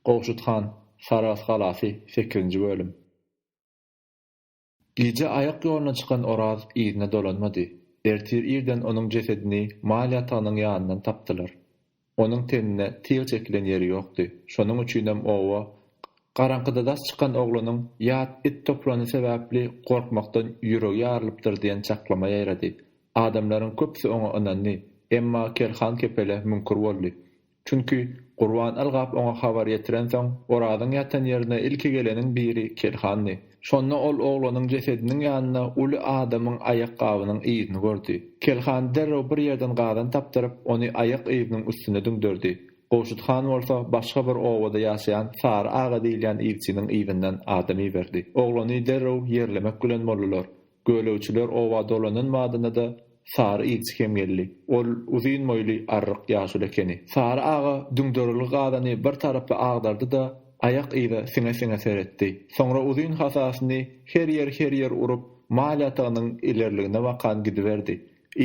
Gowşut han, Sarahs galasy, sekizinji bölüm. Gije aýak ýoluna çykan Oraz yzyna dolanmady. Ertir irden onuň jesedini mal ýatagynyň ýanyndan tapdylar. Onuň tenine tyg çekilen ýeri ýokdy. Şonuň üçinem oba Garaňkyda daş çykan oglanyň ýat it toplany sebäpli gorkmakdan ýüregi ýarylypdyr diýen çaklama ýaýrady. Adamlaryň köpüsi oňa ynandy, emma Ker han kepele müňkür boldy. Çünki, Gurban ylgap oňa habar ýetirensoň, Orazyň ýatan ýerine ilki geleniň biri Kelhandy. Şonda ol oglanyň jesediniň ýanynda uly adamyň aýakgabynyň yzyny gördi. Kelhan derrew bir ýerden gazan tapdyryp, ony aýak yzynyň üstüne düňderdi. Gowşut han bolsa başga bir obada ýaşaýan Sary aga diýilýän ilçiniň yzyndan adam iberdi. Oglany derrew ýerlemek bilen boldular. Gölegçiler oba dolanan badyna-da Sary ilçi hem geldi. Ol uzyn boýly, arryk ýaşuly ekeni. Sary aga düňderilgi gazany bir tarapa agdardy-da, aýak yza siňe-siňe seretdi. Soňra uzyn hasasyny her ýer-her ýer urup, mal ýatagynyň ilerligine bakan gidiberdi.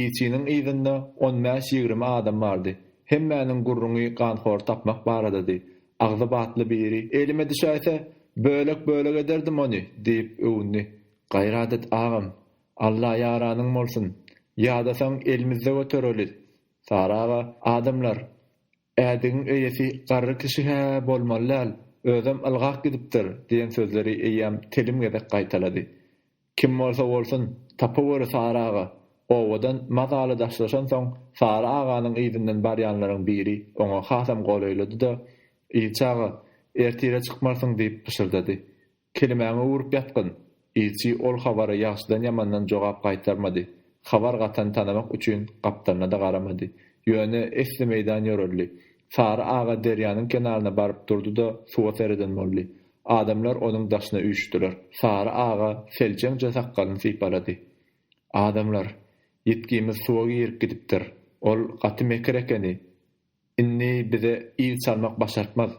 Ilçiniň yzynda on bäş-ýigrimi adam bardy. Hemmäniň gürrüňi ganhory tapmak baradady. Agzy batly biri, Elime düşäýse, bölek-bölek ederdim ony! diýip öwündi. Gaýrat et agam. Alla ýaranyň bolsun. Ýadasaň elimizde göterelis. Sary aga, adamlar, ädigiň eýesi garry kişi-hä bolmaly däl, özem ylgap gidipdir diýen sözleri eýýäm telim gezek gaýtalady. Kim bolsa bolsun, tapaweri Sary aga. Owadan mazaly daşlaşansoň, Sary aganyň yzyndan barýanlaryň biri oňa hasam golaýlady-da, Yz çaga, ertire çykmarsyň diýip pyşyrdady. Kelimäňi öwrüp ýatgyn! Ilçi ol habara ýagşydan-ýamandan jogap gaýtarmady. Habar gatany tanamak üçin gapdalyna-da garamady. Ýöne esli meýdan ýöreldi. Sary aga derýanyň kenaryna baryp durdy-da, suwa sereden boldy. Adamlar onuň daşyna üýşdüler. Sary aga seljeňje sakgalyny sypalady. Adamlar, ýitgimiz suwa girip gidipdir. Ol gaty mekir ekeni. Indi bize il çalmak başartmaz.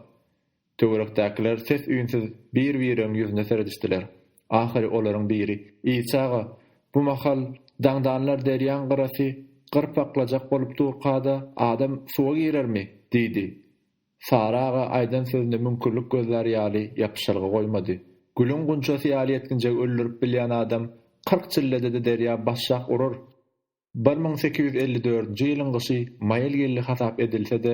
Töwerekdäkiler ses-üýnsüz bir-bireriň ýüzüne seredişdiler. Ahyry olaryň biri, Ilçi aga, bu mahal daňdanlar derýaň gyrasy gyryp aklajak bolup durka-da adam suwa girermi? diýdi. Sary aga aýdan sözüne müňkürlik gözlär ýaly ýapyşylgy goýmady. Gülüň gunçasy ýaly ýetginjegi öldürip bilýän adam kyrk çillede-de derýa başşak urar. Bir müň sekiz ýüz elli dördünji ýylyň gyşy maýyl geldi hasap edilse-de,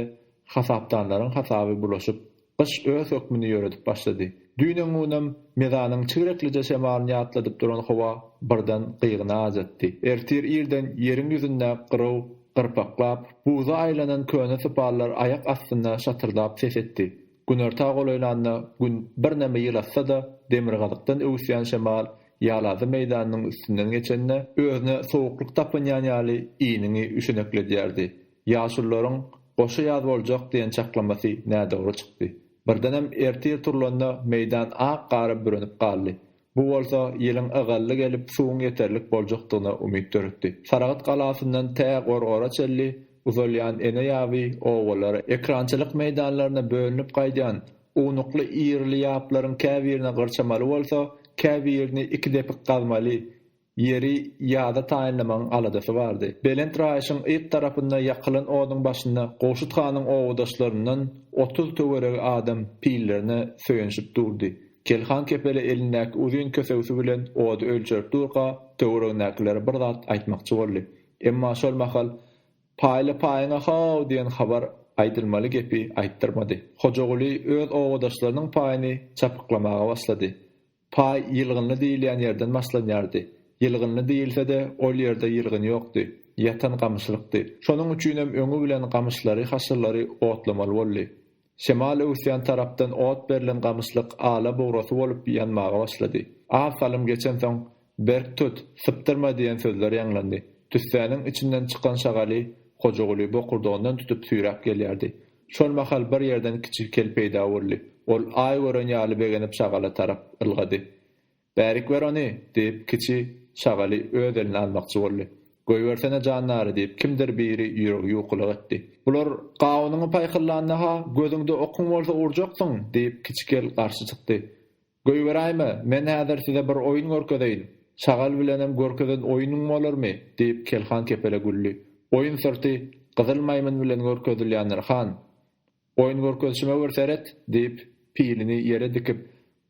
hasapdanlaryň hasaby bulaşyp, gyş öz hökmüni ýöredip başlady. Düýn-öňňunam mezanyň çigreklije şemalyny ýatladyp duran howa birden gygyny ajatdy. Ertir irden ýeriň ýüzünde gyraw gyrpaklap, buza aýlanan köne sypallar aýak astynda şatyrdap ses etdi. Günorta golaýlanda Gün birneme ýylatsa-da, demirgazykdan öwüsýän şemal Ýalazy meýdanynyň üstünden geçende, özüne sowuklyk tapynýan ýaly iniňi üşenekledýärdi. Ýaşulularyň Goşa ýaz boljak diýen çaklamasy nädogry çykdy. Birdenem ertir turlanda meýdan ak gara bürenip galdy. Bu bolsa ýylyň ygally gelip, suwuň ýeterlik boljakdygyna umyt döretdi. Saragt galasyndan tä Gorgora çenli uzalýan ene ýaby obalara, ekrançylyk meýdanlaryna bölünip gaýdýan ownukly ýerli ýaplaryň käbirini gyrçamaly bolsa, käbirini iki depik gazmaly, Ýeri ýada taýynlamagyň aladasy bardy. Belent raýyşyň yz tarapynda ýakylan oduň başynda Gowşut hanyň obadaşlaryndan otuz töweregi adam pillerine söýenişip durdy. Kelhan kepeli elindäki uzyn kösegsi bilen ody ölçerip durka, töweregindäkilere bir zat aýtmakçy boldy. Emma şol mahal Paýla paýyňa how! diýen habar aýdylmaly gepi aýtdyrmady. Hojaguly öz obadaşlarynyň paýyny çapyklamaga başlady. Paý ýylgynly diýilýän ýerden başlanýardy. Ýylgynly diýilse-de, ol ýerde ýylgyn ýokdy. Ýatan gamyşlykdy. Şonuň üçinem öňi bilen gamyşlary, haşyrlary otlamaly boldy. Şemal öwüsýän tarapdan ot berlen gamyşlyk ala bugrasy bolup ýanmaga başlady. Az salym geçensoň, Berk tut, sypdyrma diýen sözler ýaňlandy. Tüssäniň içinden çykan şagaly Hojaguly bokurdagyndan tutup süýräp gelýärdi. Şol mahal bir ýerden kiçi kel peýda boldy. Ol aý gören ýaly begenip şagala tarap ylgady. Bärik ber ony! diýip, kiçi şagaly öz eline almakçy boldy. Goýbersene jandary! diýip, kimdir biri ýüregi ýuwkulyk etdi. Bular gawunyňy paýkyllanda-ha, gözüňde okuň bolsa urjaksyň! diýip, kiçi kel garşy çykdy. Goýberäýme, men häzir size bir oýun görkezeýin. Çagal bilenem görkezen oýnuň bolarmy? diýip, Kelhan kepele güldi. Oýun syrty, Gyzyl maýmyn bilen görkezilýändir, han. Oýun görkezişime bir seret, diýip, pilini ýere dikip,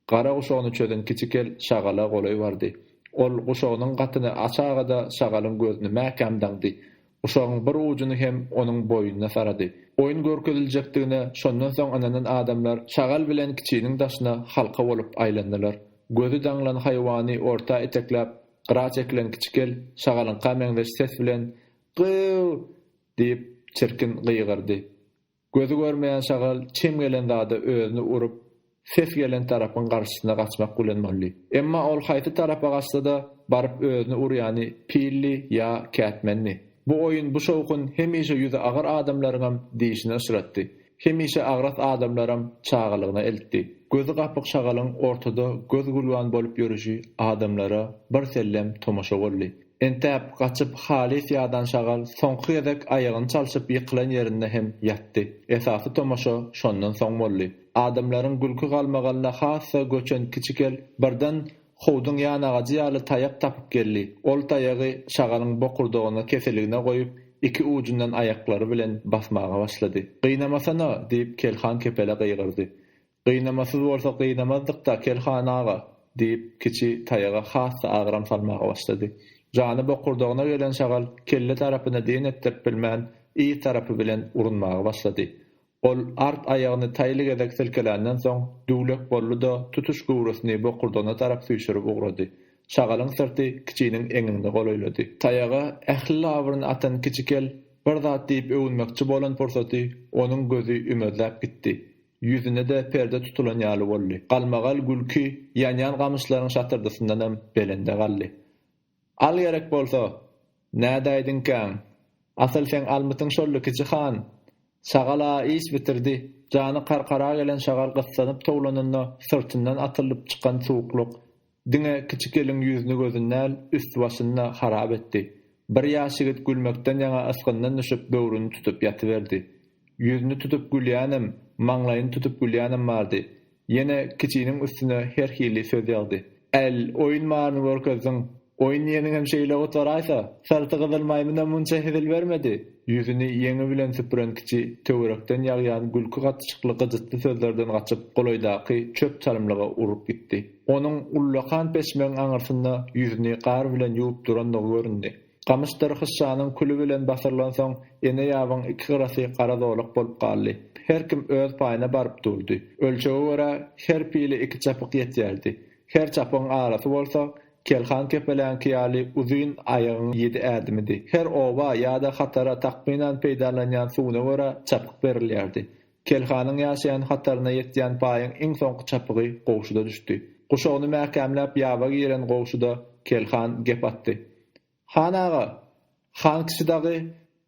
gara guşagyny çözen kiçi kel şagala golaý bardy. Ol guşagynyň gatyny açagada şagalyň gözüni mäkäm daňdy. Guşagyň bir ujuny hem onuň boýnuna sarady. Oýun görkeziljekdigine şondan soň ynanan adamlar şagal bilen kiçiniň daşyna halka bolup aýlandylar. Gözi daňlan haýwany orta etekläp, gyra çekilen kiçi kel şagalyňka meňzeş ses bilen Gyýw! diýip, çirkin gygyrdy. Gözi görmeýän şagal çem gelen zada özüni urup, ses gelen tarapyň garşysyna gaçmak bilen boldy. Emma ol haýsy tarapa gaçsa-da, baryp özüni urýany pildi ýa kätmendi. Bu oýun, bu şowhun hemişe ýüzi agyr adamlaryňam dişini yşratdy. Hemişe agras adamlaram çagalygyna eltdi. Gözi gapyk şagalyň ortada göz-gülwan bolup ýörüşi adamlara birsellem tomaşa boldy. Entäp, gaçyp halys ýadan şagal soňky gezek aýagyny çalşyp ýykylan ýerinde hem ýatdy. Esasy tomaşa şondan soň boldy. Adamlaryň gülki-galmagalyna hassa göçen kiçi kel birden howduň ýan agajy ýaly taýak tapyp geldi. Ol taýagy şagalyň bokurdagyna keseligine goýup, iki ujundan aýaklary bilen basmaga başlady. Gynamasana! diýip, kel han kepele gygyrdy. Gynamasyz bolsa gynamazdyk-da, Kerhan aga, diýip, kiçi taýaga has-da agram salmaga başlady. Jany bokurdagyna gelen şagal kelle tarapyna diýen etdirip bilmän, yz tarapy bilen urunmaga başlady. Ol art aýagyny taýly gezek silkeländen soň, düwlek boldy-da, tutuş göwresini bokurdagyna tarap süýşürip ugrady. Şagalyň syrty kiçiniň eňegine golaýlady. Taýaga ähli labyryny atan kiçi kel bir zat diýip öwünmekçi bolan pursaty onuň gözi ümezläp gitdi. Ýüzüne-de perde tutulan ýaly boldy. Galmagal gülki ýanýan gamyşlaryň şatyrdysyndanam belende galdy. Al gerek bolsa! Nädäýdiňkäň? Asyl seň almytyň şoldy, kiçi han! Şagal-a iş bitirdi. Jany karkara gelen şagal gyssanyp towlanynda syrtyndan atyldyp çykan suwuklyk. Diňe kiçi gelin ýüzüni-gözüni däl, üst-başyny-da harap etdi. Bir ýaş ýigit gülmekden ýaňa ysgyndan düşüp böwrüni tutup ýatyberdi. Ýüzüni tutup gülýänem, maňlaýyny tutup gülýänem bardy. Ýene kiçiniň üstüne her hili söz ýagdy. Äl, oýun baryny görkezdiň. Oýun diýeniňem şeýle gutaraýsa, syrty gyzyl maýmyna munça hezil bermedi. Ýüzüni ýeňi bilen süpüren kiçi töwerekden ýagýan gülki gatyşykly gyjytly sözlerden gaçyp golaýdaky çöp çalymlyga urup gitdi. Onuň ullakan peşmegiň aňyrsynda ýüzüni gar bilen ýuwup durandygy göründi. Gamyşdyr hyşşanyň küli bilen basyrylansoň, ene ýabyň iki gyrasy gara zolak bolup galdy. Her kim öz paýyna baryp durdy. Ölçege görä, her pile iki çapyk ýetýärdi. Her çapygyň arasy bolsa, kelhan kepeläňki ýaly uzyn aýagyň ýedi ädimidi. Her oba ýa-da hatara takmynan peýdalanýan suwuna görä çapyk berilýärdi. Kelhanyň ýaşaýan hataryna ýetýän paýyň iň soňky çapygy Gowşuda düşdi. Guşagyny mäkämläp ýaba giren Gowşuda Kelhan gep atdy. Han aga! Han kişi dagy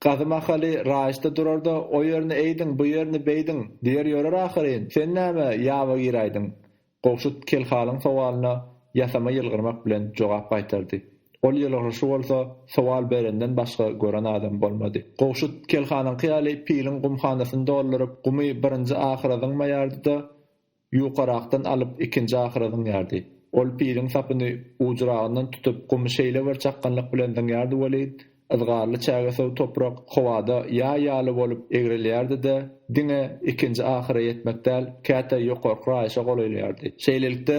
gazy mahaly raýyşda durar-da, o ýerini eýdiň, bu ýerini beýdiň diýer ýörer ahyryn. Sen näme ýaba giräýdiň? Gowşut Kelhalyň sowalyna ýasama ýylgyrmak bilen jogap gaýtardy. Ol ýylgyryşy bolsa sowal berenden başga gören adam bolmady. Gowşut Kelhanyňky ýaly piliň gumhanasyny dolduryp, gumy birinji ahyra zyňmaýardy-da, ýukarakdan alyp ikinji ahyra zyňýardy. Ol piliň sapyny ujuragyndan tutup, gumy şeýle bir çakganlyk bilen zyňýardy welin, Yzgarly çägesöw toprak howada ýaý ýaly bolup egrelýärdi-de, diňe ikinji ahyra ýetmek däl, käte ýokarky raýyşa golaýlaýardy. Şeýlelikde,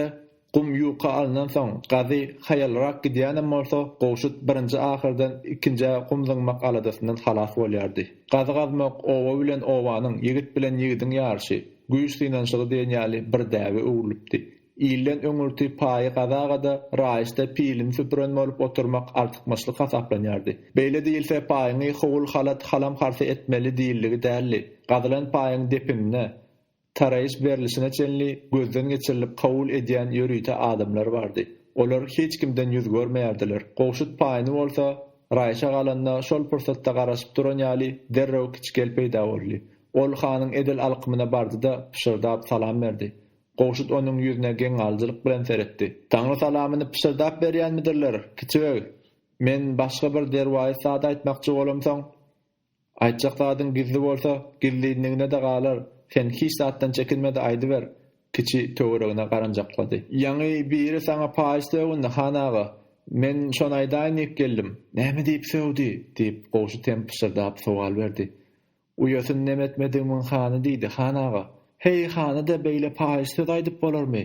gum ýuka alnansoň, gazy haýalrak gidýänem bolsa, gowşut birinji ahyrdan ikinjä gum zyňmak aladasyndan halas bolýardy. Gazy gazmak oba bilen obanyň, ýigit bilen ýigidiň ýaryşy, güýç synanyşygy diýen ýaly bir däbe öwrülipdi. Ilden öňürti paýy gazagada, raýyşda pilini süpüren bolup oturmak artykmaçlyk hasaplanýardy. Beýle diýilse, paýyňy howul-halat, halam-harsa etmeli diýildigi däldi. Gazylan paýyň depinine, taraýyş berlişine çenli gözden geçirilip kabul edýän ýörite adamlar bardy. Olar hiç kimden ýüz görmeýärdiler. Gowşut paýyny bolsa, raýyşa galanda şol pursatda garaşyp duran ýaly derrew kiçikel peýda boldy. Ol hanyň edil alkymyna bardy-da, pyşyrdap salam berdi. Gowşut onuň ýüzüne geň alyjylyk bilen seretdi. Taňry salamyny pyşyrdap berýänmidirler, kiçi beg? Men başga bir derwaýys zat aýtmakçy bolamsoň, Aýtjak zadyň gizli bolsa, gizlinligine-de galar, sen hiç zatdan çekinme-de aýdyber, kiçi töweregine garanjaklady. Ýaňy biri saňa paýyş sögündi, han aga. Men şony aýdaýyn diýip geldim. Näme diýip sögdi? diýip, Gowşut hem pyşyrdap sowal berdi. Uýasyn Nemetmedigmiň hany diýdi, Han aga. Heý, hany-da beýle paýyş söz aýdyp bolarmy?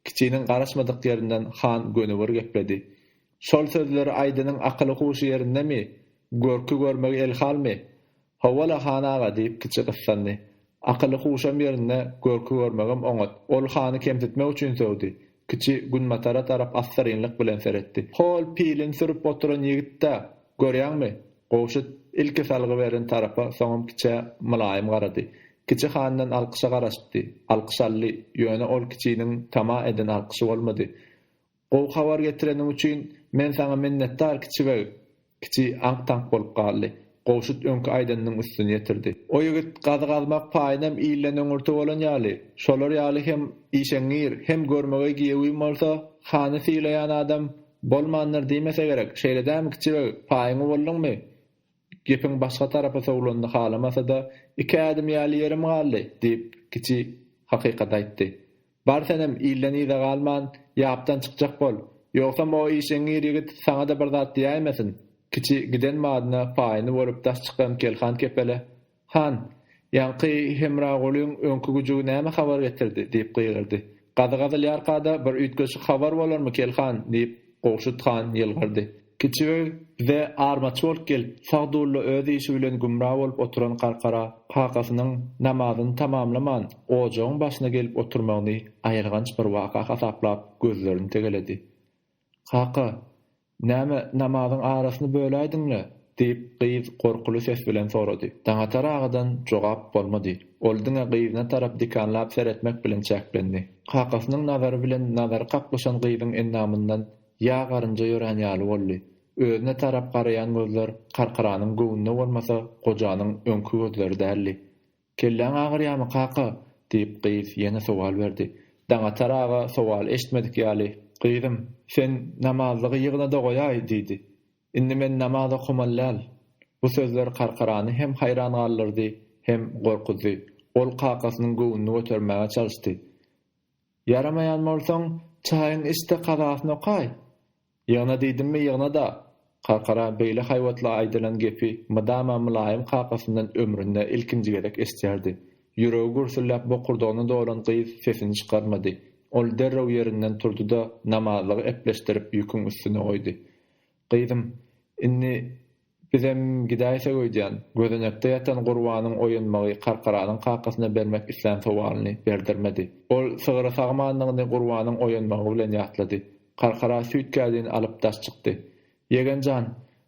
Kiçiniň garaşmadyk ýerinden han gönübir gepledi. Şol sözleri aýdanyň akyly-huşy ýerindemi? Görki görmegi elhalmy? Hawa-la, han aga, diýip kiçi gyssandy. Akyly-huşam ýerinde, görki görmegem oňat. Ol hany kemsitmek üçin sögdi. Kiçi günbatara tarap assyrynlyk bilen seretdi. Hol, pilini sürüp oturan ýigit-dä, görýäňmi? Gowşut ilki salgy beren tarapa, soňam kiçä mylaýym garady. Kiçi handan alkyşa garaşypdy. Alkyş aldy, ýöne ol kiçiniň tama eden alkyşy bolmady. Gowy habar getireniň üçin men saňa minnetdar, kiçi beg! Kiçi aňk-taňk bolup galdy. Gowşut öňki aýdanynyň üstüni ýetirdi. O ýigit gazy gazmak paýynam ilden öňürti bolan ýaly, şolar ýaly hem işeňňir, hem görmegeý giýewin bolsa, hany sylaýan adam bolmandyr diýmese gerek, şeýle dämi kiçi beg, paýyňy bolduňmy? Gepiň başga tarapa sowlanyny halamasa-da, Iki ädim ýaly ýerim galdy, diýip, kiçi hakykaty aýtdy. Bar senem ilden yza galman, ýapdan çykjak bol. Ýogsam o işeňňir ýigit saňa-da bir zat diýäýmesin. Kiçi giden madyna paýyny bolup daş çykan Kelhan kepele, Han, ýaňky Hemragulyň öňki güjügi näme habar getirdi? diýip gygyrdy. Gazy gazylýarka-da bir üýtgeşik habar bolarmy, Kelhan? diýip, Gowşut han ýylgyrdy. Kiçiöý, Bize armaç bolup gel, Sagdulla öz işi bilen gümra bolup oturan Garkara kakasynyň namazyny tamamlaman, ojagyň başyna gelip oturmagyny aýylganç bir waka hasaplap, gözlerini tegeledi. Kaka, näme, namazyň arasyny böläýdiň-le? diýip, gyz gorkuly ses bilen sorady. Daňatar agadan jogap bolmady. Ol diňe gyzyna tarap dikanlap seretmek bilen çäklendi. Kakasynyň nazary bilen nazary kaklyşan gyzyň endamyndan Ýa garynja ýörän ýaly boldy. Özüne tarap garaýan gözler Karkaranyň göwnüne bolmasa, gojanyň öňki gözleri däldi. Kelläň agyrýamy, kaka? diýip, gyz ýene sowal berdi. Daňatar aga sowal eşitmedik ýaly, Gyzym, sen namazlygy ýygna-da goýaý, diýdi. Indi men namaz okamaly däl. Bu sözler Karkarany hem haýran galdyrdy, hem gorkuzdy. Ol kakasynyň göwnüni götermäge çalyşdy. Ýaramaýan bolsaň, çaýyň iç-de kazasyny okaý! Ýygna diýdimmi, ýygna-da! Kakara beýle haýbatly aýdylan gepi mydama mylaýym kakasyndan ömründe ilkinji gezek eşidýärdi. Ýüregi gürsülläp bokurdagyna dolan gyz sesini çykarmady. Ol derrew ýerinden turdy-da, namazlygy epleşdirip ýüküň üstüne goýdy. Gyzym, indi Bizem gidäýsek öýdýän. Gözenekde ýatan Gurbanyň oýanmagy Karkaranyň kakasyna bermek islän sowalyny berdirmedi. Ol sygyry sagmandygyny Gurbanyň oýanmagy bilen ýatlady. Karkara süýt kädini alyp daş çykdy. Ýegen jan,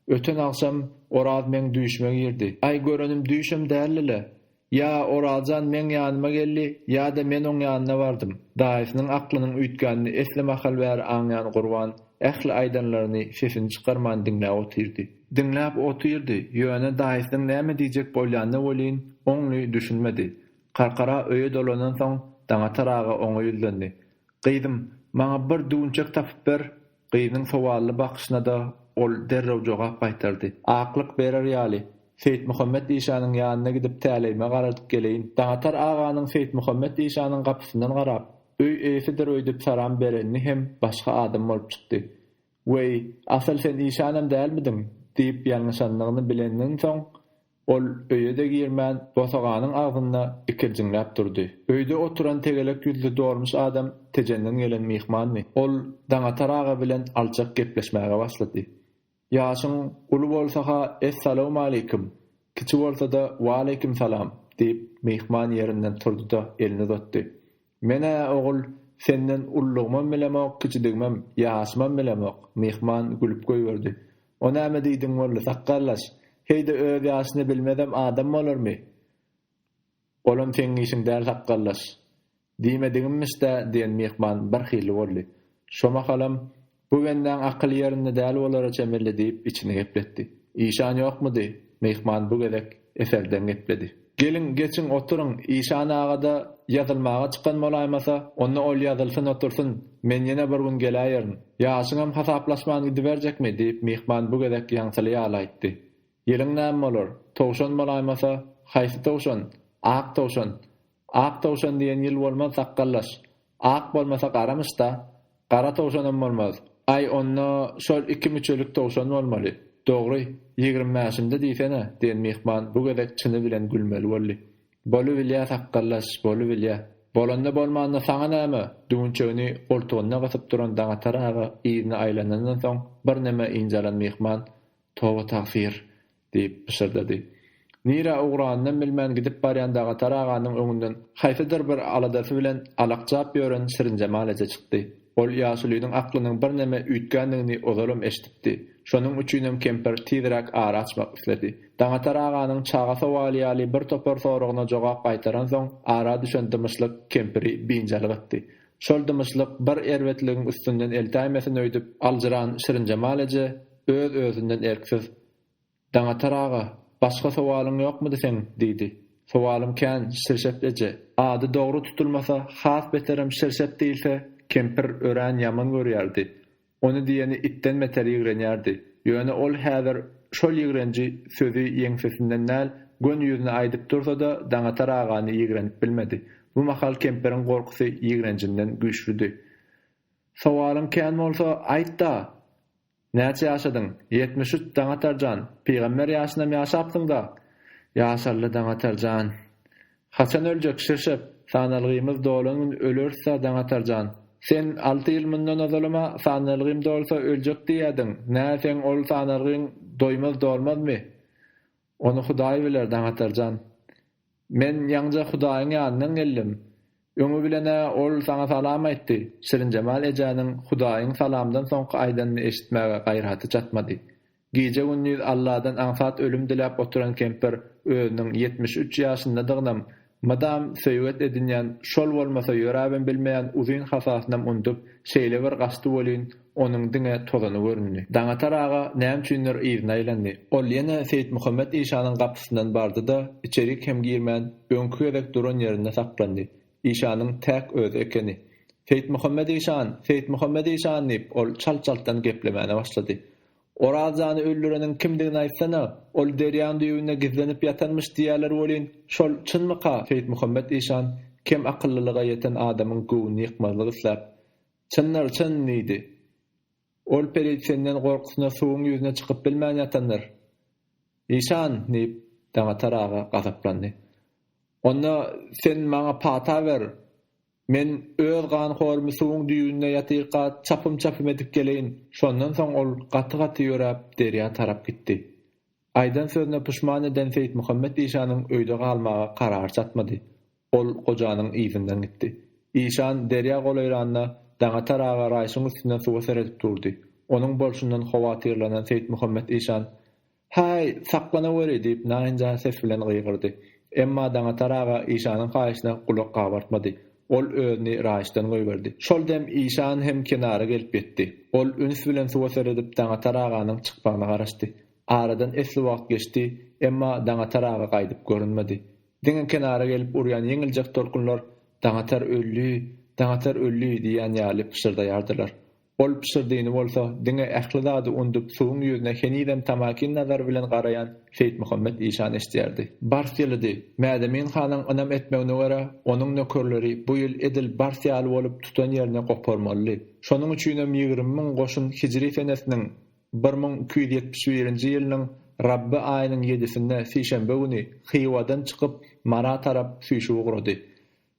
öten agşam Oraz meň düýşüme girdi. Aý görenim düýşem däldi-le. Ýa Oraz jan meň ýanyma geldi, ýa-da men oň ýanyna bardym. Daýysynyň aklynyň üýtgänini esli mahal bäri aňýan Gurban ähli aýdanlaryny sesini çykarman diňläp otyrdy. Diňläp otyrdy, ýöne daýysynyň näme diýjek bolýanyna welin, oňly düşünmedi. Karkara öýe dolanansoň, Daňatar aga oňa ýüzlendi. Gyzym, maňa bir düwünçek tapyp ber. Gyzyň sowally bakyşyna-da ol derrew jogap gaýtardy. Aklyk berer ýaly, Seýitmuhammet işanyň ýanyna gidip täleýime garadyp geleýin. Daňatar aganyň Seýitmuhammet işanyň gapysyndan garap, öý eýesidir öýdüp saram berenini hem başga adam bolup çykdy. Weý, asyl sen işanam dälmidiň? diýip ýalňyşandygyny bileniniňsoň, Ol öýe-de girmän, bosaganyň agzynda ikirjiňläp durdy. Öýde oturan tegelek ýüzli dolmuş adam Tejenden gelen myhmanmy? Ol Daňatar aga bilen alçak gepleşmäge başlady. Ýaşyň uly bolsa-ha Essalawmaleýkim, kiçi bolsa-da Waleýkim salam! diýip, myhman ýerinden turdy-da, elini uzatdy. Men-ä, ogul, senden ullugymam bilemok, kiçidigimem, ýaşymam bilemok. Myhman gülüp goýberdi. O näme diýdiň boldy, sakgallaş? Heý-de öz ýaşyny bilmezem adam bolarmy? Olam seň işiň däl, sakgallaş. Diýmedigimmiş-dä, diýen myhman birhili boldy. Şo mahalam Bu bendaň akyly ýerinde däl bolara çemeli diýip, içini gepletdi. Işan ýokmudy? Myhman bu gezek eserdeň gepledi. Geliň, geçiň, oturyň. Işan aga-da ýazylmaga çykan bolaýmasa, onda ol ýazylsyn otursyn, men ýene bir gün geläýerin. Ýaşyňam hasaplaşman gidiberjekmi? diýip, myhman bu gezek ýaňsyly ýaly aýtdy. Ýylyň näme bolar? Towşan bolaýmasa, haýsy towşan? Ak towşan. Ak towşan diýen ýyl bolmaz, sakgallaş. Ak bolmasa garamyş-da. Gara towşanam bolmaz. Aý, onda şol iki müçelik towşan bolmaly. Dogry, ýigrimi bäşinde diýsene, diýen myhman bu gezek çyny bilen gülmeli boldy. Bolubilýä, sakgallaş, bolubilýä. Bolanda bolmanda saňa näme? Düwünçegini goltugyna gysyp duran Daňatar aga yzyna aýlanandan soň birneme ynjalan myhman, Toba-tagsyr, Diýip, pyşyrdady. Nirä ugranynam bilmän gidip barýan Dagatar aganyň öňünden haýsydyr bir aladasy bilen alakjap ýören Şirinjemal eje çykdy. Ol ýaşulynyň aklynyň birneme üýtgändigini ozalam eşidipdi. Şonuň üçinem kempir tizräk ara açmak isledi. Daňatar aganyň çaga sowaly ýaly bir topar soragyna jogap gaýtaransoň, ara düşen dymyşlyk kempiri biynjalyk etdi. Şol dymyşlyk bir erbetligiň üstünden eltäýmesin öýdüp aljyran Şirinjemal eje öz-özünden erksiz. Daňatar aga, başga sowalyň ýokmudy seň? diýdi. Sowalym kän, Şirşet eje. Ady dogry tutulmasa, has beterem Şirşet diýilse, kempir örän ýaman görýärdi. Ony diýeni itden beter ýigrenýärdi. Ýöne ol häzir şol ýigrenji sözi ýeňsesinden däl, göni ýüzüne aýdyp dursa-da, Daňatar agany ýigrenip bilmedi. Bu mahal kempiriň gorkusy ýigrenjinden güýçlüdi. Sowalyň kän bolsa, aýt-da! Näçe ýaşadyň? Ýetmiş üç, Daňatar jan, pygamber ýaşynam ýaşapsyň-da! Ýaşaly, Daňatar jan. Haçan öljek, Şirşep? Sanalgymyz dolan gün öleris-ä, Daňatar jan. Sen alty ýyl mundan ozalam-a sanalgym dolsa öljek diýýädiň. Nä, seň ol sanalgyň doýmaz-dolmazmy? Ony Hudaý biler, Daňatarjan. Men ýaňja Hudaýyň ýanyndan geldim. Öňi bilen-ä ol saňa salam aýtdy. Şirinjemal ejäniň Hudaýyň salamdan soňky aýdanyny eşitmäge gaýraty çatmady. Gije-gündiz Alladan aňsat ölüm diläp oturan kempir özüniň ýetmiş üç ýaşyndadygynam, Mydam söýget edinýän, şol bolmasa ýöräbem bilmeýän uzyn hasasynam undup, şeýle bir gaçdy welin, onuň diňe tozany göründi. Daňatar aga näme üçindir yzyna aýlandy. Ol ýene Seýitmuhammet işanyň gapysyndan bardy-da, içerik hem girmän, öňki gezek duran ýerinde saklandy. Işanyň täk özi ekeni. Seýitmuhammet işan, Seýitmuhammet işan diýip, ol çalt-çaltdan geplemäne başlady. Oraz jany öldüreniň kimdigini aýtsana, ol derýaň düýbünde gizlenip ýatanmyş diýýäler welin, şol çynmyka? Seýitmuhammet işan kem akyllylyga ýeten adamyň göwnüni ýykmazlyk isläp, Çyndyr, çyn! diýdi. Ol pelitsenden gorkusyna suwuň ýüzüne çykyp bilmän ýatandyr. Işan! diýip, Daňatar aga gazaplandy. Onda sen maňa pata ber! Men öz ganhorymy suwuň düýbünde ýatyka çapym-çapym edip geleýin. Şondan soň ol gaty-gaty ýöräp, derýa tarap gitdi. Aýdan sözüne puşman eden Seýitmuhammet işanyň öýde galmaga karary çatmady. Ol gojanyň yzyndan gitdi. Işan derýa golaýranda, Daňatar aga raýşyň üstünden suwa seredip durdy. Onuň bolşundan howatyrlanan Seýitmuhammet işan. Häý, saklanaweri! diýip, naýynjar ses bilen gygyrdy. Emma Daňatar aga işanyň haýyşyna gulak gabartmady. Ol özüni raýyşdan goýberdi. Şol dem işan hem kenara gelip ýetdi. Ol üns bilen suwa seredip Daňatar aganyň çykmagyna garaşdy. Aradan esli wagt geçdi, emma Daňatar aga gaýdyp görünmedi. Diňe kenara gelip urýan ýeňiljek tolkunlar Daňatar öldi, Daňatar öldi diýýän ýaly pyşyrdaýardylar. Ol pyşyrdyny bolsa, diňe ähli zady undup, suwuň ýüzüne henizem tamakin nazary bilen garaýan Seýitmuhammet işan eşidýärdi. Bars ýylydy. Mädemin hanyň ynam etmegine görä, onuň nökerleri bu ýyl edil bars ýaly bolup tutan ýerini goparmalydy. Şonuň üçinem ýigrimi müň goşun hijri senesiniň bir müň iki ýüz ýetmiş birinji ýylynyň Rabby aýynyň ýedisinde, sişenbe güni, Hywadan çykyp, Mara tarap süýşüp ugrady.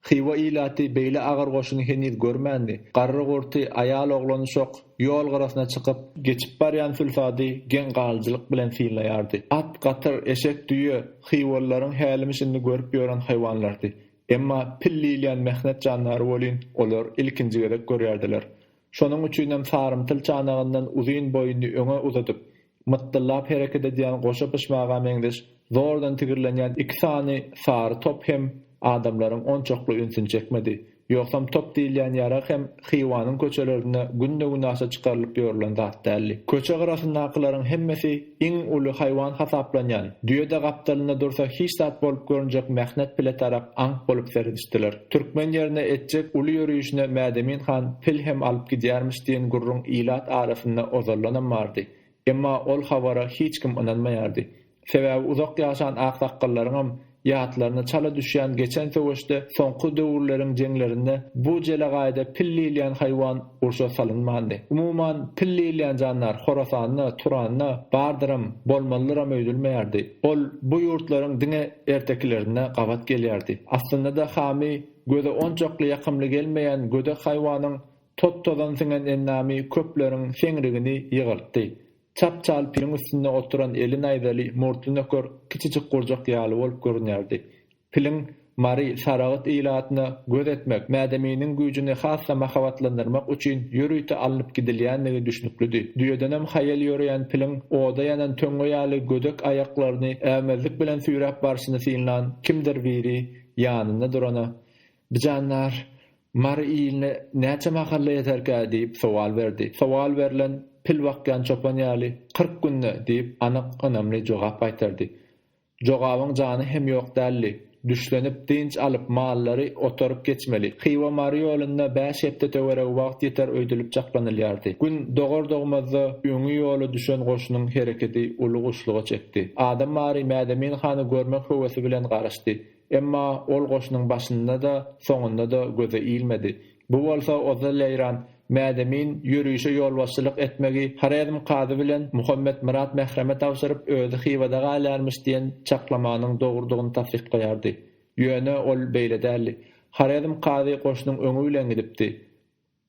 Hywa ilaty beýle agyr goşuny heniz görmändi. Garry-gurty, aýal-oglany şok, ýol gyrasyna çykyp, geçip barýan sülsady geň galyjylyk bilen synlaýardy. At, gatyr, eşek, düýe, hywalylaryň hälimi-şindi görüp ýören haýwanlardy. Emma pil diýilýän mähnet jandary welin, olar ilkinji gezek görýärdiler. Şonuň üçinem sarymtyl çanagyndan uzyn boýuny öňe uzadyp, mytdyllap hereket edýän goşa pyşmaga meňzeş zordan tigirlenýän iki sany sary top hem adamlaryň onçakly ünsüni çekmedi. Ýogsam top diýilýän ýarag hem Hywanyň köçelerinde günde-günaşa çykarylyp ýörülen zat däldi. Köçe gyrasyndakylaryň hemmesi Iň uly haýwan hasaplanýan düýe-de gapdalynda dursa hiç zat bolup görünjek Mähnet pile tarap aňk bolup seredişdiler. Türkmen ýerine etjek uly ýörüşine Mädemin han pil hem alyp gidýärmiş diýen gürrüň ilat arasynda ozaldanam bardy. Emma ol habara hiç kim ynanmaýardy. Sebäbi uzak ýaşan aksakgallaryňam Ýatlaryna çala düşýän geçen söweşde, soňky döwürleriň jeňlerinde bu jelegaýda pil diýilýän haýwan urşa salynmandy. Umuman, pil diýilýän jandar Horasanda, Turanda bardyram, bolmalydyram öýdülmeýärdi. Ol bu ýurtlaryň diňe ertekilerinde gabat gelýärdi. Aslynda-da Hami göze onçakly ýakymly gelmeýän gödek haýwanyň tot-tozan siňen endamy köpleriň seňrigini ýygyrtdy. Çap çalpyň üstünde oturan eli naýzaly murtly nöker kiçijik gurjak ýaly bolup görünýärdi. Piliň Mary, Saragyt ilatyna göz etmek, Mädeminiň güýjüni has-da mahabatlandyrmak üçin ýörite alnyp gidilýändigi düşnüklidi. Düýedenem haýal ýöreýän piliň oda ýanan töňňe ýaly gödek aýaklaryny äwmezlik bilen süýräp barşyny synlan kimdir biri ýanynda durana, Bijan nar, Mary iline näçe mahalla ýeterkä? diýip sowal berdi. Sowal berlen pil bakýan çopan ýaly, Kyrk günde! diýip, anyk, ynamly jogap gaýtardy. Jogabyň jany hem ýok däldi. Düşlenip, dynç alyp, mallary otaryp geçmeli. Hywa-Mary ýolunda bäş hepde töweregi wagt ýeter öýdülip çaklanylýardy. Gün dogar-dogmazda öňi ýola düşen goşunyň hereketi uly guşluga çekdi. Adam Mary Mädemin hany görmek höwesi bilen garaşdy. Emma ol goşunyň başynda-da, soňunda-da göze ilmedi. Bu bolsa Oza Leýran, Mädemin ýörişe ýolbaşçylyk etmegi Horezm kazy bilen Muhammet Myrat Mähreme tabşyryp, özi Hywada galýarmyş diýen çaklamanyň dogrudygyny tassyklaýardy. Ýöne ol beýle däldi. Horezm kazy goşunyň öňi bilen gidipdi.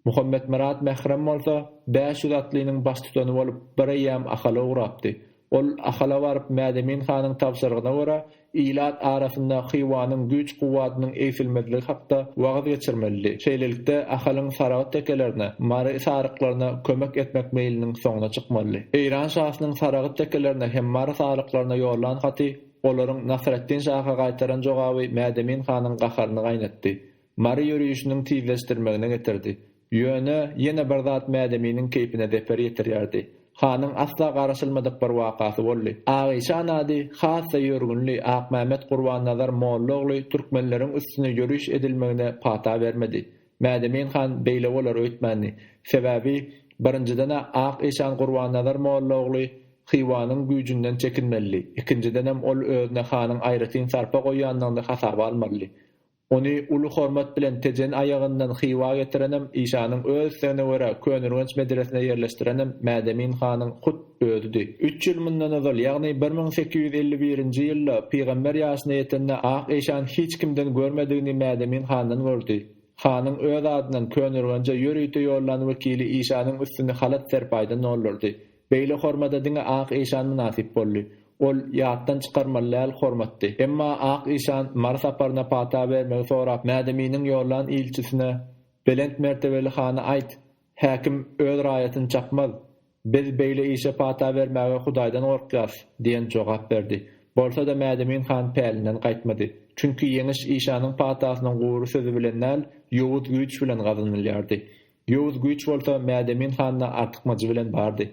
Muhammetmyrat Mährem bolsa bäş ýüz atlynyň baştutany bolup bir eýýäm Ahala ugrapdy. Ol Ahala baryp Mädemin hanyň tabşyrygyna görä ilat arasynda Hywanyň güýç-kuwwadynyň egsilmezligi hakda wagyz geçirmelidi. Şeýlelikde Ahalyň Saragyt tekelerine, Mary saryklaryna kömek etmek meýliniň soňuna çykmalydy. Eýran şasynyň Saragyt tekelerine hem Mary saryklaryna ýollan haty, olaryň Nasreddin şaha gaýtaran jogaby Mädemin hanyň gaharyny gaýnatdy. Mary ýörişiniň tizleşdirmegine getirdi. Ýöne, ýene bir zat Mädeminiň keýpine zeper ýetirýärdi. Hanyň asla garaşylmadyk bir wakasy boldy. Agyşan ady has-da ýörgünli Akmämmet Gurbannazar molla ogly türkmenleriň üstüne ýöriş edilmegine pata bermedi. Mädemin han beýle bolar öýtmändi. Sebäbi, birinjiden-ä Ak işan Gurbannazar molla ogly Hywanyň güýjünden çekinmelidi, ikinjidenem ol özüne hanyň aýratyn sarpa goýýandygyny hasaba almalydy. Ony uly hormat bilen Tejen aýagyndan Hywa getirenem, işanyň öz islegine görä Könürgenç medresine ýerleşdirenem Mädemin hanyň hut özüdi. Üç ýyl mundan ozal, ýagny bir müň sekiz ýüz elli birinji ýylda pygamber ýaşyna ýetende ak işan hiç kimden görmedigini Mädemin handan gördi. Hanyň öz adyndan Könürgenje ýörite ýollan wekili işanyň üstüni halat-serpaýdan doldurdy. Beýle hormada diňe ak işan mynasyp boldy. Ol ýatdan çykarmaly däl hormatdy. Emma ak işan Mary saparyna pata bermegi sorap Mädeminiň ýollan ilçisine, Belent mertebeli hana aýt, häkim öz raýatyny çakmaz. Biz beýle işe pata bermäge Hudaýdan gorkýarys, diýen jogap berdi. Bolsa-da Mädemin han pälinden gaýtmady. Çünki ýeňiş işanyň patasynyň gury sözi bilen däl, ýowuz güýç bilen gazanylýardy. Ýowuz güýç bolsa Mädemin handa artykmajy bilen bardy.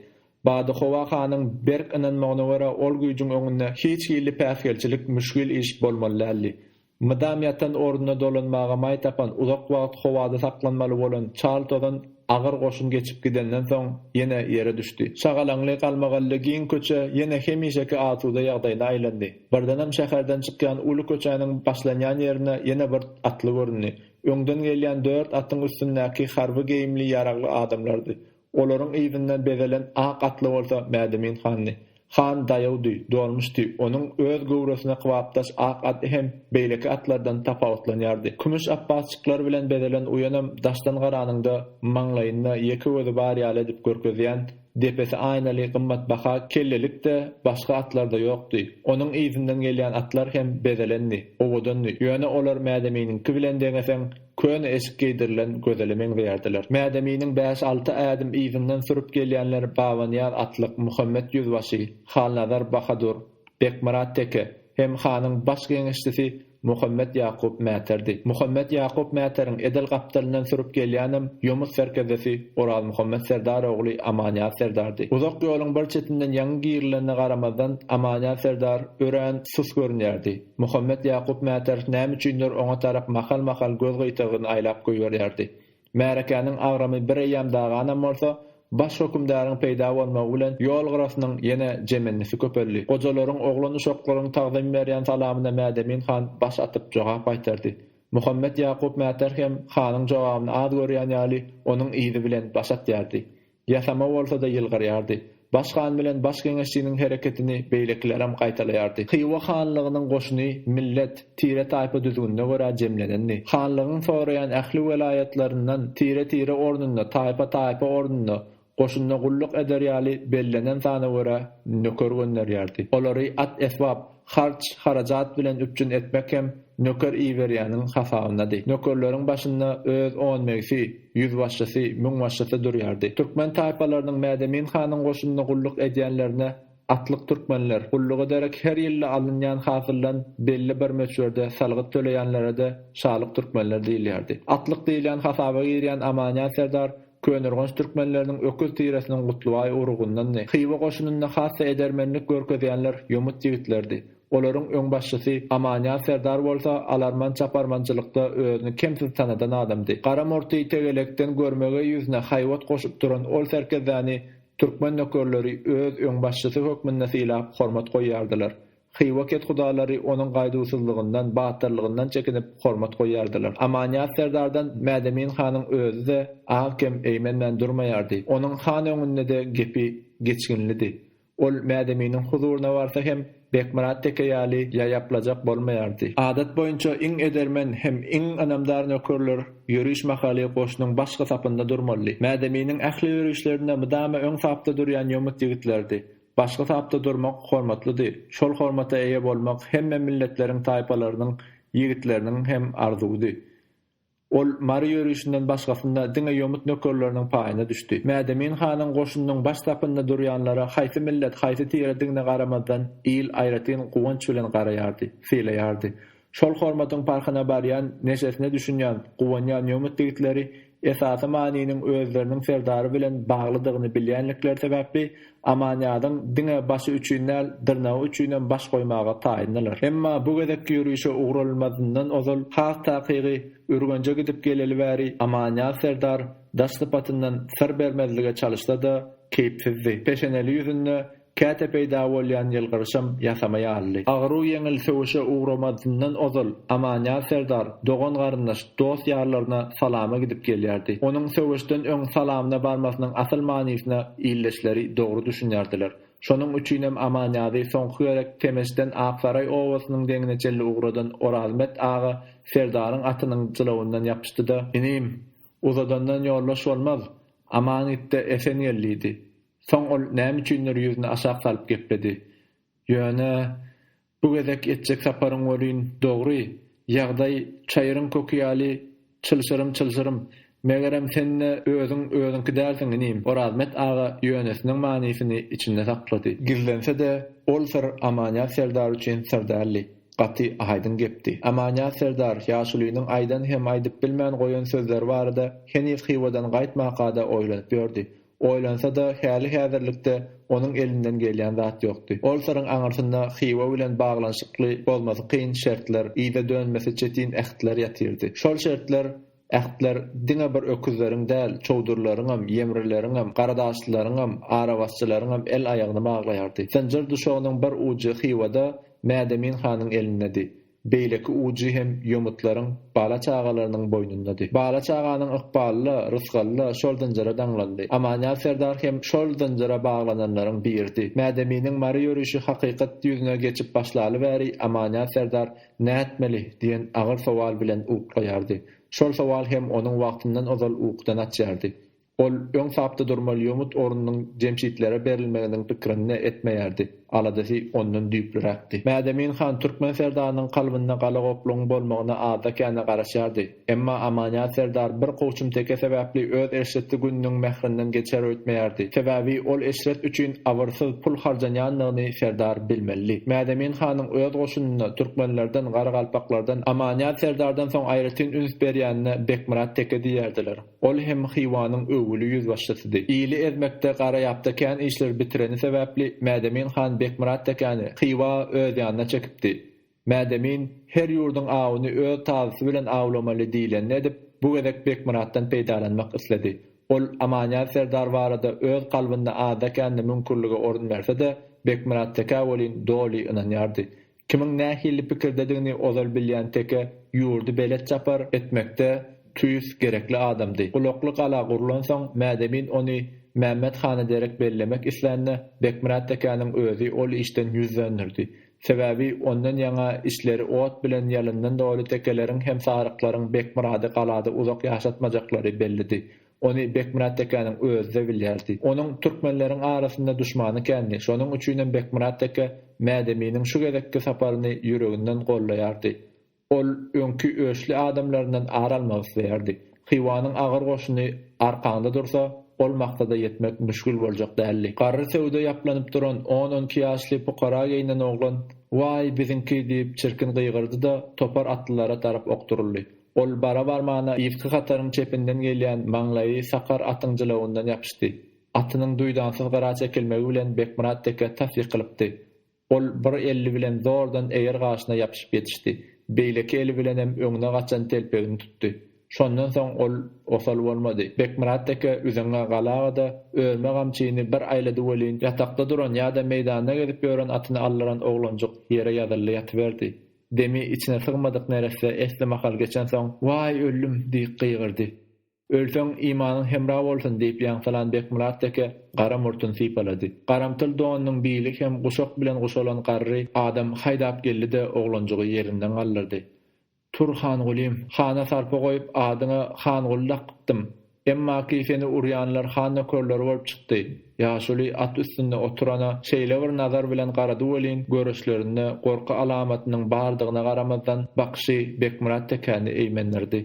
Badyhowa hanyň berk ynanmagyna görä ol güýjüň öňünde hiç hilli päsgelçilik müşgil iş bolmaly däldi. Mydam ýatan orduna dolanmaga maý tapan uzak wagt howada saklanmaly bolan çal tozan agyr goşun geçip gidenden soň ýene ýere düşdi. Şagalaňly galmagally giň köçe ýene hemişeki asuda ýagdaýyna aýlandy. Birdenem şäherden çykýan uly köçäniň başlanýan ýerinde ýene bir atly göründi. Öňden gelýän dört atyň üstündäki harby geýimli ýaragly adamlardy. Olaryň yzyndan bezelen ak atly bolsa Mädemin handy. Han daýawdy, dolmuşdy, onuň öz göwresine kybapdaş ak aty hem beýleki atlardan tapawutlanýardy. Kümüş apbasjyklar bilen bezelen uýanam daşdan garanyňda maňlaýynda ýeke gözi bar ýaly edip görkezýän Depesi aýnaly gymmatbaha kellelik-de başga atlarda ýokdy. Onuň yzyndan gelýän atlar hem bezelendi, owadandy, ýöne olar Mädeminiňki bilen deňeseň, köne eşik geýdirilen gözele meňzeýärdiler. Mädeminiň bäş-alty ädim yzyndan sürüp gelýänler Babanyýaz atlyk Muhammet ýüzbaşy, Halnazar bahadur, Bekmyrat teke, MHK-nyň baş geňeşçisi Muhammet Ýakup Mäterdi. Muhammet Ýakup Mäteriň edil gapdalyndan sürüp gelýänem Ýomut serkerdesi Orazmuhammet Serdar ogly Amanýaz Serdardy. Uzak ýoluň bir çetinden ýaňy girilenine garamazdan, Amanýaz Serdar örän sus görünýärdi. Muhammet Ýakup Mäter nämüçindir oňa tarap mahal-mahal göz gyýtagyny aýlap goýberýärdi. Märekäniň agramy bir eýýäm daganam bolsa, baş hökümdaryň peýda bolmagy bilen ýol gyrasynyň ýene jemendisi köpeldi. Gojalaryň, oglan-uşaklaryň tagzym berýän salamyna Mädemin han baş atyp jogap gaýtardy. Muhammet Ýakup Mäter hem hanyň jogabyny az görýän ýaly, onuň yzy bilen baş atýardy. Ýasama bolsa-da ýylgyrýardy. Baş han bilen baş geňeşçiniň hereketini beýlekilerem gaýtalaýardy. Hywa hanlygynyň goşuny millet, tire-taýpa düzgünine görä jemlenendi. Hanlygyň soraýan ähli welaýatlaryndan tire-tire ornunda, taýpa-taýpa ornunda, goşunda gulluk eder ýaly bellenen sana görä nöker gönderýärdi. Olary at-esbap, Harç, harajat bilen üpjün etmek hem nöker iberýäniň hasabyndady. Nökerleriň başynda öz onmegsi, ýüzbaşçysy, müňbaşçysy durýardy. Türkmen taýpalarynyň Mädemin hanyň goşunynda gulluk edýänlerine atlyk türkmenler, gullugy derek her ýylda alynýan hasyldan belli bir möçberde salgyt töleýänlere-de şalyk türkmenler diýilýärdi. Atlyk diýilýän hasaba girýän Amanýaz serdar Köneürgenç türkmenleriniň öküz tiresiniň Gutlybaý urugundandy. Hywa goşunynda has-da edermenlik görkezýänler ýomut ýigitlerdi. Olaryň öňbaşçysy Amanýaz serdar bolsa alarman çaparmançylykda özüni kemsiz tanadan adamdy. Gara murty tegelekden görmegeý ýüzüne haýbat goşup duran ol serkezdäni türkmen nökerleri öz öňbaşçysy hökmünde sylap hormat goýýardylar. Hywa kethudalary onuň gaýduwsyzlygyndan, batyrlygyndan çekinip, hormat goýýardylar. Amanyýaz serdardan Mädemin hanyň özi-de az-kem eýmenmän durmaýardy. Onuň han öňünde-de gepi geçginlidi. Ol Mädeminiň huzuryna barsa hem Bekmyrat teke ýaly ýaýaplajak bolmaýardy. Adat boýunça iň edermen hem iň ynamdar nökerler ýöriş mahaly goşunyň başky sapynda durmalydy. Mädeminiň ähli ýörişlerinde mydama öň sapda durýan ýomut ýigitlerdi. Başga tapda durmak hormatlydy. Şol hormata eýe bolmak hemme milletleriň taýpalarynyň ýigitleriniň hem arzuwydy. Ol Mary ýörişinden başgasynda diňe ýomut nökerleriniň paýyna düşdi. Mädemin hanyň goşunynyň baş sapynda durýanlara haýsy millet, haýsy tiredigine garamazdan il aýratyn guwanç bilen garaýardy, sylaýardy. Şol hormatyň parhyna barýan, neşesine düşünýän, guwanýan ýomut ýigitleri esasy manynyň özleriniň serdary bilen baglydygyny bilýänlikleri sebäpli Amanýazyň diňe başy üçin däl, dyrnagy üçinem baş goýmaga taýyndylar. Emma bu gezekki ýörişe ugralmazyndan ozal has takygy Ürgenje gidip geleli bäri Amanýaz serdar daş sypatyndan syr bermezlige çalyşsa-da, keýpsizdi. Peşeneli ýüzünde Käte peýda bolýan ýylgyryşam ýasama ýalydy. Agyru ýeňil söweşe ugramazyndan ozal, Amanýaz serdar dogan-garyndaş, dost-ýarlaryna salama gidip gelýärdi. Onuň söweşden öň salamyna barmasynyň asyl manysyna ildeşleri dogry düşünýärdiler. Şonuň üçinem Amanýazy soňky gezek Temeçden Aksaraý obasynyň deňine çenli ugradan Orazmet aga serdaryň atynyň jylawyndan ýapyşdy-da. Inim, uzadandan ýoldaş bolmaz, aman git-de esen gel diýdi. Soň ol näme üçindir ýüzüni aşak salyp gepledi. Ýöne, bu gezek etjek saparyň welin dogry, ýagdaý çaýyryň köki ýaly çylşyrym-çylşyrym. Megerem, sen-de özüň özüňki dälsiň, inim. Orazmet aga ýönesiniň manysyny içinde saklady. Gizlense-de, ol syr Amanýaz serdar üçin syr däldi. Gaty aýdyň gepdi. Amanýaz serdar ýaşulynyň aýdan hem aýdyp bilmän goýan sözleri barada heniz Hywadan gaýtmaka-da oýlanyp ýördi. Oýlansa-da, häli-häzirlikde onuň elinden gelýän zat ýokdy. Ol syryň aňyrsynda Hywa bilen baglanyşykly bozmasy kyn şertler, yza dönmesi çetin ähtler ýatyrdy. Şol şertler, ähtler diňe bir öküzleriň däl, çowdurlaryňam, ýemrileriňem, garadaşlylaryňam, arabasçylaryňam el-aýagyny baglaýardy. Zynjyr duşagynyň bir ujy Hywada, Mädemin hanyň elindedi. Beýleki ujy hem ýomutlaryň bala çagalarynyň boýnundady. Bala çaganyň ykbaly-la, rysgaly-la şol zynjyra daňlandy. Amanýaz serdar hem şol zynjyra baglananlaryň biridi. Mädeminiň mary ýörüşi hakykat ýüzüne geçip başlaly bäri Amanýaz serdar Nätmeli? diýen agyr sowal bilen uklaýardy. Şol sowal hem onuň wagtyndan ozal ukudan açýardy. Ol öň tapda durmaly ýomut ornunyň jemşitlere berilmeginiň pikirini-de etmeýärdi, aladasy ondan düýplüräkdi. Mädemin han türkmen serdarynyň kalbynda galagoplugyň bolmagyna azda-kände garaşýardy, emma Amanýaz serdar bir kowçum teke sebäpli öz eşretli gününiň mährinden geçer öýtmeýärdi, sebäbi ol eşret üçin abyrsyz pul harjanýandygyny serdar bilmelidi. Mädemin hanyň öz goşunynda türkmenlerden, garagalpaklardan Amanýaz serdardan soň aýratyn üns berýänine Bekmyrat teke diýerdiler. Ol hem Hywanyň öwgüli ýüzbaşçysydy. Ili ezmekde Garaýapda kän işleri bitireni sebäpli Mädemin han Bekmyrat tekäni Hywa öz ýanyna çekipdi. Mädemin, Her ýurduň awuny öz tazysy bilen awlamaly diýlenini edip, bu gezek Bekmyratdan peýdalanmak isledi. Ol Amanýaz serdar barada öz kalbynda azda-kände müňkürlige orun berse-de, Bekmyrat tekä welin doly ynanýardy. Kimiň nähili pikirdedigini ozal bilýän teke ýurdy belet çapar etmekde tüýs gerekli adamdy. Gulakly gala gurlansoň, Mädemin ony Mämmet hana derek bellemek islände, Bekmyrat tekäniň özi ol işden ýüz dönderdi. Sebäbi ondan ýaňa içleri ot bilen ýalyndan doly tekeleriň hem saryklaryň Bekmyrady galada uzak ýaşatmajaklary bellidi. Ony Bekmyrat tekäniň özi-de bilýärdi. Onuň türkmenleriň arasynda duşmany kändi, şonuň üçinem Bekmyrat teke Mädeminiň şu gezekki saparyny ýüreginden goldaýardy. Ol öňki öçli adamlaryndan ar almak isleýärdi. Hywanyň agyr goşuny arkaňda dursa, ol maksada ýetmek müşgil boljak däldi. Garry söwda ýaplanyp duran on-on iki ýaşly pukara geýnen oglan, Waý, biziňki! diýip, çirkin gygyrdy-da, topar atlylara tarap okduryldy. Ol bara-barmana irki hataryň çepinden gelýän maňlaýy sakar atyň jylawyndan ýapyşdy. Atynyň duýdansyz gyra çekilmegi bilen Bekmyrat deke tas ýykylypdy. Ol bir elli bilen zordan eger gaşyna ýapyşyp ýetişdi. Beýleki eli bilenem öňüne gaçan telpegini tutdy. Şondan soň ol osal bolmady. Bekmyrat deke üzeňňä galaga-da, örme gamçyny bir aýlady welin, ýatakda duran ýa-da meýdanda gezip ýören atyny aldyran oglanjyk ýere ýazyldy ýatyberdi. Demi içine sygmadyk neresse esli mahal geçensoň, Waý, öldüm! diýip gygyrdy. Ölseň, imanyň hemra bolsun! diýip ýaňsylan Bekmyrat teke gara murtuny sypalady. Garamtyl donunyň bili hem guşak bilen guşalan garry adam haýdap geldi-de, oglanjygy ýerinden galdyrdy. Tur, Hangulym! Hana sarpa goýup, adyňa Hanguly dakypdym. Emmaki seni urýanlar han nökerleri bolup çykdy. Ýaşuly at üstünde oturana şeýle bir nazar bilen garady welin, görüşlerinde gorky alamatynyň bardygyna garamazdan, bakyşy Bekmyrat tekäni eýmendirdi.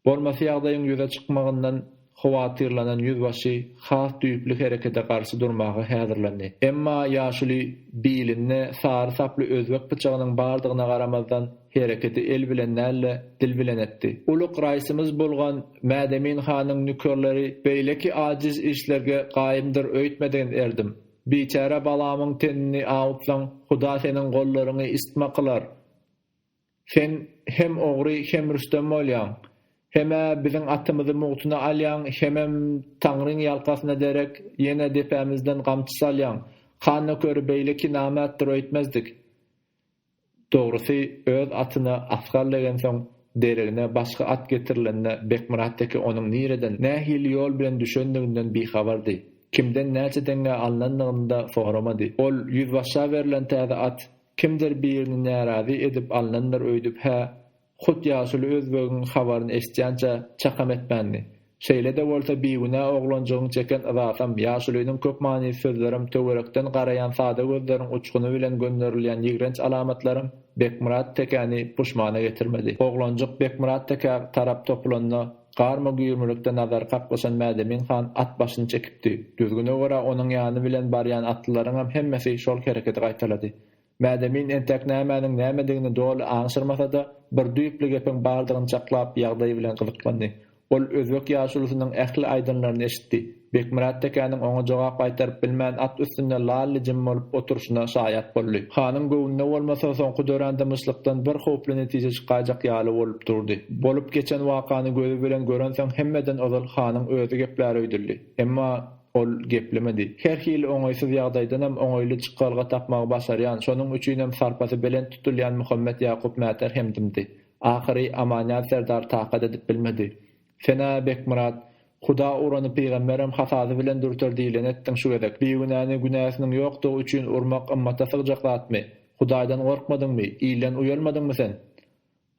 Bolmasy ýagdaýyň ýüze çykmagyndan howatyrlanan ýüzbaşy has düýpli herekede garşy durmaga häzirlendi. Emma Ýaşuly bilinde sary saply özbek pyçagynyň bardygyna garamazdan, Hereketi el bilen däl-de, dil bilen etdi. Ulug Raisimiz bolgan Mädemin hanyň nökerleri beýleki ajiz işlerge gaýymdyr öýtmedigin erdim. Biçäre balamyň tenini awutsaň, Huda seniň gollaryňy isitma kylar. Sen hem ogry, hem rüstem bolýaň. Hem-ä biziň atymyzy mugtuna alýaň, hemem Taňryň ýalkasyna derek, ýene depämizden gamçy salýaň. Han nökeri beýleki namertdir öýtmezdik. Dogrusy, öz atyna Asgal degensoň, deregine başga at getirilende Bekmyrat teke onuň nireden, nähili ýol bilen düşendiginden bihabardy. Kimden näçe deňňä alnandygyny-da soramady. Ol ýüzbaşa berlen täze at, kimdir birini närazy edip alnandyr öýdüp-hä Hut ýaşuly özbegiň habaryny eşitýänçä çakam etmändi. Şeýle-de bolsa bigünä oglanjygyň çeken yzasam, ýaşulynyň köp manyly sözlerem, töwerekden garaýan sada gözleriň uçguny bilen gönderilýän ýigrenç alamatlaram Bekmyrat tekäni puşmana getirmedi. Oglanjyk Bekmyrat tekä tarap topulanda, garma-güýrmülikde nazary kaklyşan Mädemin han at başyny çekipdi. Düzgüne görä onuň ýany bilen barýan atlylaryňam hemmesi şol hereketi gaýtalady. Mädemin entäk nämäniň nämedigini doly aňşyrmasa-da, bir düýpli gepiň bardygyny çaklap, ýagdaý bilen gyzyklandy. Ol özbek ýaşulusynyň ähli aýdanlaryny eşitdi. Bekmyrat tekäniň oňa jogap gaýtaryp bilmän at üstünde lal-lijim bolup oturyşyna şaýat boldy. Hanyň göwnüne bolmasa, soňky dörän dymyşlykdan bir howply netije çykaýjak ýaly bolup durdy. Bolup geçen wakany gözi bilen görensoň hemmeden ozal hanyň özi gepläreýdildi. Emma. Ol geplemedi. Her hili oňaýsyz ýagdaýdanam oňaýly çykalga tapmagy başarýan, şonuň üçinem sarpasy belent tutulýan Muhammet Ýakup mäter hem dymdy. Ahyry Amanýaz serdar takat edip bilmedi. Sen-ä, Bekmyrat, Huda urany pygamberem hasaby bilen dürter diýleni etdiň şu gezek. Bigünäni günäsiniň ýokdugy üçin urmak ymmata sygjak zatmy? Hudaýdan gorkmadyňmy? Ilden uýalmadyňmy sen?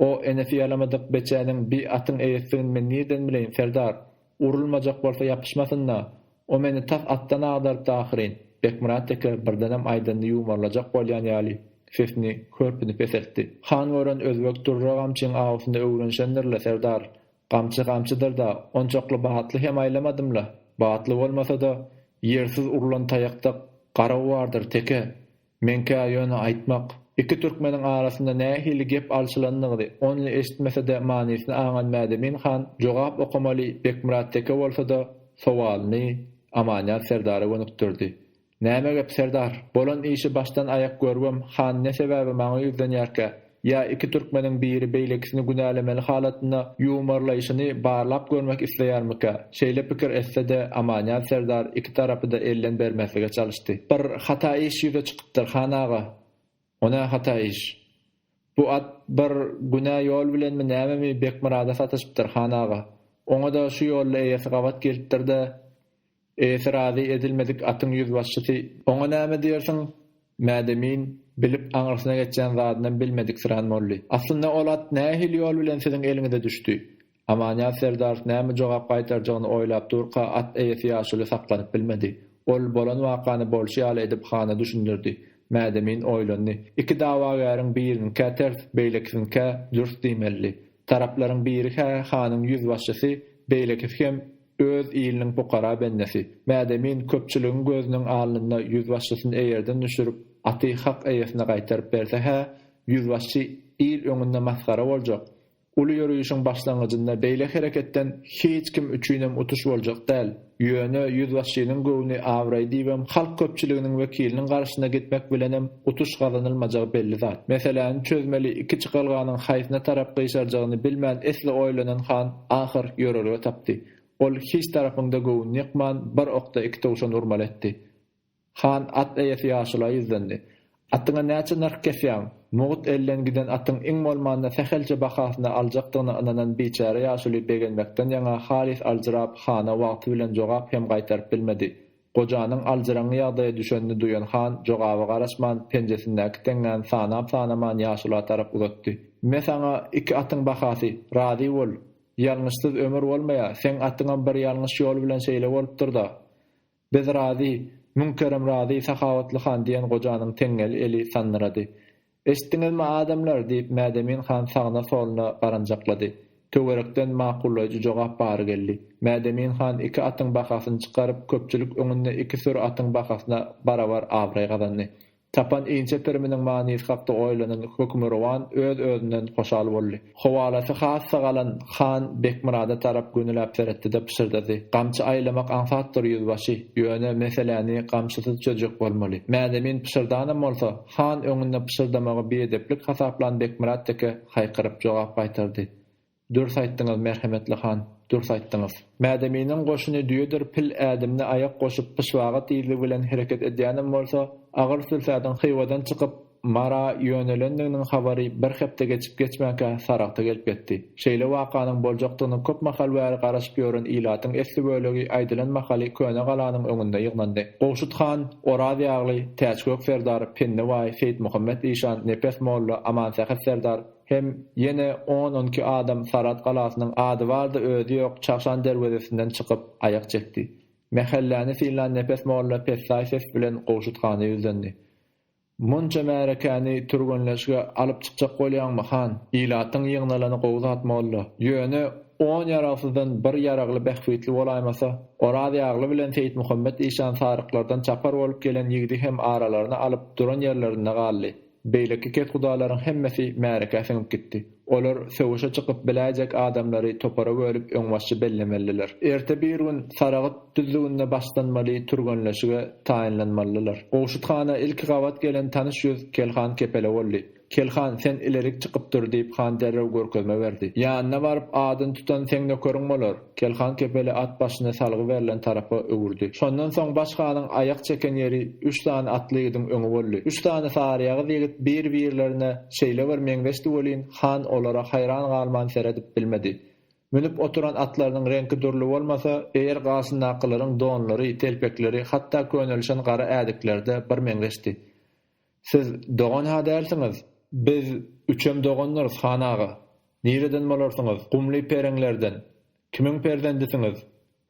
O, enesi ýalamadyk beçäniň bi atyň eýesidigini men nirden bileýin, serdar? Urulmajak bolsa ýapyşmasyn-da! O meni tas atdan agdarypdy ahyryn! Bekmyrat teke birdenem aýdanyny ýuwmarlajak bolýan ýaly, sesini hörpüni peseltdi. Han gören özbek durra gamçyň awusyny öwrenişendir-le, serdar! Gamçy gamçydyr-da, onçakly batly hem aýlamadym-la! Batly bolmasa-da, ýersiz urlan taýakda garaw bardyr, teke! Meňkä ýöne aýtmak, iki türkmeniň arasynda nähili gep alşylandygyny only eşitmese-de manysyny aňan Mädemin han jogap okamaly Bekmyrat teke bolsa-da sowalyny Amanýaz serdara gönükdirdi. Näme gep, serdar? Bolan işi başdan-aýak görübem, han ne sebäbe maňa ýüzlenýärkä? Ýa iki türkmeniň biri beýlekisini günälemeli halatynda ýuwmarlaýşyny barlap görmek isleýärmikä? Şeýle pikir etse-de, Amanýaz serdar iki tarapy-da elden bermezlige çalyşdy. Bir hata iş ýüze çykypdyr, han aga. O nä hata iş? Bu at bir günä ýol bilenmi nämemi Bekmyrada sataşypdyr, han aga. Oňa-da şu ýolda eýesi gabat gelipdir-de, Eýesi razy edilmedik atyň ýüzbaşçysy oňa näme diýersiň? Mädemin, bilip aňyrsyna geçýän zadynam bilmediksirän Molly. Aslynda ol at nähili ýol bilen siziň eliňize düşdi? Amanýaz serdar näme jogap gaýtarjagyny oýlap durka at eýesi ýaşuly saklanyp bilmedi. Ol bolan wakany bolşy ýaly edip hana düşündirdi. Mädemin oýlandy. Iki dawagäriň biriniňkä ters, beýlekisiniňkä dürs diýmelidi. Taraplaryň biri-hä hanyň ýüzbaşçysy, beýlekisi hem. Öz iliniň pukara bendesi, Mädemin köpçüligiň gözüniň alnynda ýüzbaşçysyny eýerden düşürip, aty hak eýesine gaýtaryp berse-hä, ýüzbaşçy il öňünde masgara boljak. Uly ýörişiň başlangyjynda beýle hereketden hiç kim üçinem utuş boljak däl. Ýöne ýüzbaşçynyň göwni abraý diýibem halk köpçüliginiň wekiliniň garşysyna gitmek bilenem utuş gazanylmajagy belli zat. Meseläni çözmeli iki çykalganyň haýsyna tarap gyşarjagyny bilmän esli oýlanan han, ahyr ýörelge tapdy. Ol hiç tarapyňda göwün ýykman, bir okda iki towşan urmaly etdi. Han at eýesi ýaşula ýüzlendi. Atyňa näçe nyrh kesýäň? Mugt elden giden atyň iň bolmanda sähelçe bahasyny aljakdygyna ynanan biçäre ýaşuly begenmekden ýaňa halys aljyrap, hana wagty bilen jogap hem gaýtaryp bilmedi. Gojanyň aljyraňňy ýagdaýa düşenini duýan han, jogaba garaşman, penjesindäki teňňäni sanap-sanaman ýaşula tarap uzatdy. Me saňa iki atyň bahasy, razy bol! Ýalňyşsyz ömür bolmaýa, seň atyňam bir ýalňyş ýol bilen şeýle bolupdyr-da. Biz razy, müň kerem razy, sahawatly han, diýen gojanyň teňňeli eli sandyrady. Eşitdiňizmi, adamlar? diýip, Mädemin han sagyna-soluna garanjaklady. Töwerekden makullaýjy jogap bary geldi. Mädemin han iki atyň bahasyny çykaryp, köpçülik öňünde iki süri atyň bahasyna barabar abraý gazandy. Tapan inçe piriminiň manysy hakda oýlanan Hökmürowan öz-özünden hoşal boldy. Howalasy has sagalan han Bekmyrada tarap gönüläp seretdi-de, pyşyrdady, Gamçy aýlamak aňsatdyr, ýüzbaşy. Ýöne, meseläni gamçysyz çözjek bolmaly. Mädemin pyşyrdanam bolsa, Han öňünde pyşyrdamagy biedeplik hasaplan Bekmyrat teke haýkyryp jogap gaýtardy. Dürs aýtdyňyz, merhemetli han, dürs aýtdyňyz. Mädeminiň goşuny düýedir pil ädimine aýak goşup pyşbaga tizligi bilen hereket edýänem bolsa, agyr sülsädiň Hywadan çykyp, Mara ýönelendiginiň habary bir hepde geçip-geçmänkä Saragta gelip ýetdi. Şeýle wakanyň boljakdygyna köp mahal bäri garaşyp ýören ilatyň esli bölegi aýdylan mahaly köne galanyň öňünde ýygnandy. Gowşut han, Orazýagly, Täçgök serdar, Penni baý, Seýitmuhammet işan, Nepes molla, Amansähet serdar hem ýene on-on iki adam Sarat galasynyň ady bar-da özi ýok Çagşan derwezesinden çykyp, aýak çekdi. Mähelläni synlan Nepes molla pessaý ses bilen Gowşut hana ýüzlendi. Munça märekäni türgenleşige alyp çykjak bolýaňmy, han? Ilatyň ýygnalany gowy zat, molla. Ýöne, on ýaragsyzdan bir ýaragly bähbitli bolaýmasa? Orazýagly bilen Seýitmuhammet işan saryklardan çapar bolup gelen ýigdi hem aralaryna alyp, duran ýerlerinde galdy. Beýleki kethudalaryň hemmesi märekä siňip gitdi. Olar söweşe çykyp biläýjek adamlary topara bölüp öňbaşçy bellemelidiler. Erte birigün Saragyt düzlüginde başlanmaly türgenleşige taýynlanmalydylar. Gowşut hana ilki gabat gelen tanyş ýüz Kelhan Kepele boldy. Kelhan, sen ilerik çykyp dur, diýip han derrew görkezme berdi. Ýanyna baryp, adyny tutan seň nökeriň bolar. Kelhan kepeli at başyny salgy berlen tarapa öwürdi. Şondan soň Baş hanyň aýak çeken ýeri üç sany atly ýigidiň öňi boldy. Üç sany saryýagyz ýigit bir-birlerine şeýle bir meňzeşdi welin, han olara haýran galman seredip bilmedi. Münüp oturan atlarynyň reňki dürli bolmasa, eýer garşyndakylaryň donlary, telpekleri, hatda könelişen gara ädikleri-de birmeňzeşdi. Siz dogan-ha dälsiňiz? Biz üçem dogandyrys, han aga. Nireden bolarsyňyz? Gumly pereňlerden. Kimiň perzendisiňiz?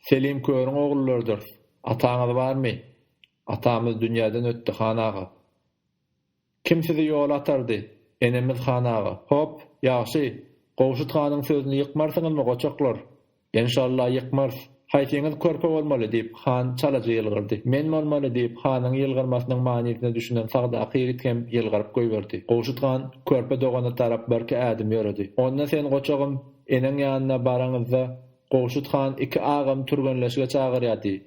Selim körüň oglularydyrys. Ataňyz barmy? Atamyz dünýäden ötdi, han aga. Kim sizi ýola atardy? Enemiz, han aga. Hop, ýagşy. Gowşut hanyň sözüni ýykmarsyňyzmy, goçaklar? Enşalla ýykmarys. Haýsyňyz körpe bolmaly? diýip, han çalaja ýylgyrdy. Men bolmaly, diýip, hanyň ýylgyrmasynyň manysyna düşünen sagdaky ýigit hem ýylgyryp goýberdi. Gowşut han körpe dogana tarap birki ädim ýöredi. Onda sen, goçagym, eneň ýanyna baraňyzda, Gowşut han iki agamy türgenleşige çagyrýar diý.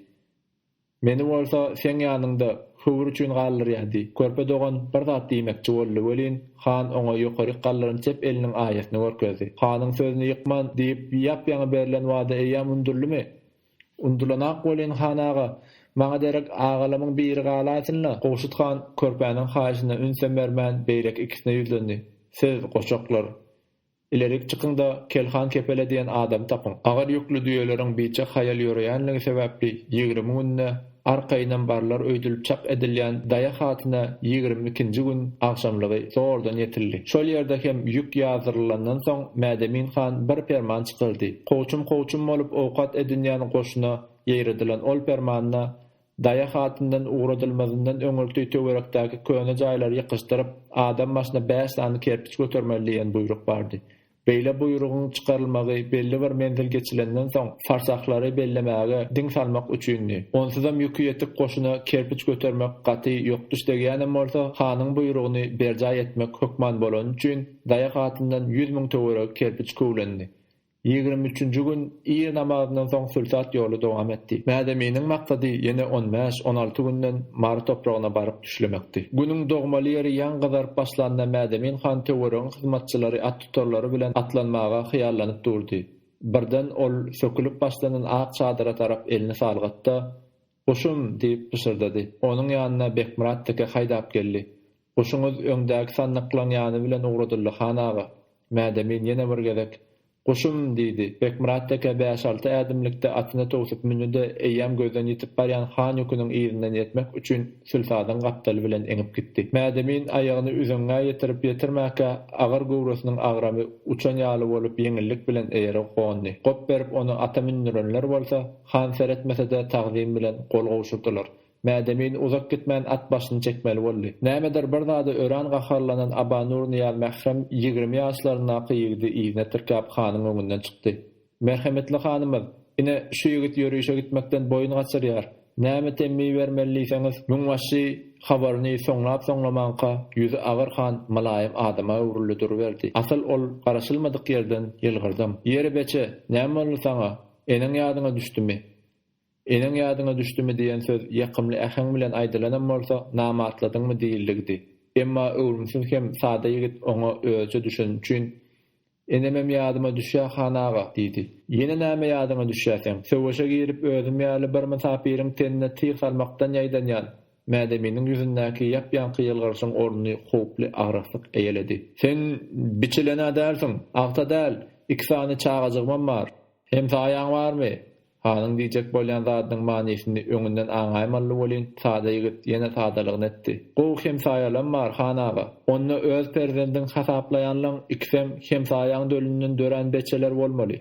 Meni bolsa seň ýanyňda höwür üçin galdyrýardy. Körpe dogan bir zat diýmekçi boldy welin, han oňa ýokaryk galdyran çep eliniň aýasyny görkezdi. Hanyň sözüni ýykman diýip ýap-ýaňy berlen wada eýýäm unudyldymy? Unudylanak welin, han aga, maňa derek agalamyň biri galaýsyn-la! Gowşut han körpäniň haýyşyna ünsem bermän, beýleki ikisine ýüzlendi. Siz, goçaklar, Ilerik çykyň-da, Kelhan Kepele diýen adamy tapyň. Agyr ýükli düýeleriň biçak haýal ýöreýänligi sebäpli ýigrimi günde arkaýynam barlar öýdülip çak edilýän Daýa hatyna ýigrimi ikinji gün agşamlygy zordan ýetildi. Şol ýerde hem ýük ýazdyrylandan soň Mädemin han bir perman çykyrdy. Kowçum-kowçum bolup owkat edinýän goşuna ýaýradylan ol permanda Daýa hatyndan ugradylmazyndan öňürti töwerekdäki köne jaýlary ýykyşdyryp, adam başyna bäş sany kerpiç götermeli diýen buýruk bardy. Beýle buýrugyň çykarylmagy belli bir menzil geçilenden soň, farsahlary bellemäge diň salmak üçindi. Onsuzam ýüki ýetik goşuna kerpiç götermek gaty ýokduş degýänem bolsa, hanyň buýrugyny berjaý etmek hökman bolany üçin, Daýa hatyndan ýüz müň töweregi kerpiç köwlendi. Ýigrimi üçünji gün ir namazyndan soň sülsat ýoly dowam etdi. Mäzeminiň maksady ýene on bäş, on alty günden Mary topragyna baryp düşlemekdi. Günüň dogmaly ýeri ýaň gyzaryp başlanda Mäzemin han töweregiň hyzmatçylary attutarlary bilen atlanmaga hyýallanyp durdy. Birden ol sökülip başlanan ak çadyra tarap elini salgatda, Guşum! diýip pyşyrdady. Onuň ýanyna Bekmyrat teke haýdap geldi. Guşuňyz öňdäki sandyklaň ýany bilen ugradyly, han aga. Mädemin ýene bir gezek, Guşum! diýdi. Bekmyrat teke bäş-alty ädimlikde atyna towsup mündi-de, eýýäm gözden ýitip barýan han ýüküniň yzyndan ýetmek üçin sülsadyň gapdaly bilen eňip gitdi. Mädemin aýagyny üzeňňä ýetirip-ýetirmäkä, agyr göwresiniň agramy uçan ýaly bolup ýeňillik bilen eýere gondy. Gop berip ony ata mündürenler bolsa, Han seretmese-de tagzym bilen gol gowşurdylar. Mädemin uzak gitmän at başyny çekmeli boldy. Nämedir bir zada örän gaharlanan Aba Nurnyýaz mährem ýigrimi ýaşlaryndaky ýigidi yzyna tirkäp hanyň öňünden çykdy. Merhemetli hanymyz, ine, şu ýigit ýörişe gitmekden boýun gaçyrýar. Näme temmi bermeli diýseňiz, müňbaşy habaryny soňlap-soňlamanka ýüzi agyr han mylaýym adama öwrüldi duruberdi. Asyl ol garaşylmadyk ýerden ýylgyrdam. Ýeri beçe, näme boldy saňa? Eneň ýadyňa düşdümi? Eneň ýadyňa düşdümi diýen söz ýakymly äheň bilen aýdylanam bolsa, namartladyňmy diýildigidi. Emma öwrümsiz hem sada ýigit oňa özüçe düşeni üçin, Enemem ýadyma düşýä, han aga! diýdi. Ýene näme ýadyňa düşýä seň? Söweşe girip özüm ýaly bir mysapyryň tenine tyg salmakdan ýaýdanýan, Mädeminiň ýüzündäki ýap-ýaňky ýylgyrşyň ornuny howply agraslyk eýeledi. Sen biçilen-ä dälsiň. Agta däl. Iki sany çagajygymam bar. Hemsaýaň barmy? Hanyň diýjek bolýan zadynyň manysyny öňünden aňaýmaly welin, sada ýigit ýene sadalygyny etdi. Gowy hemsaýalam bar, han aga. Onda öz perzendiň hasaplaýanlaň ikisem hemsaýaň dölünden dörän beçeler bolmaly.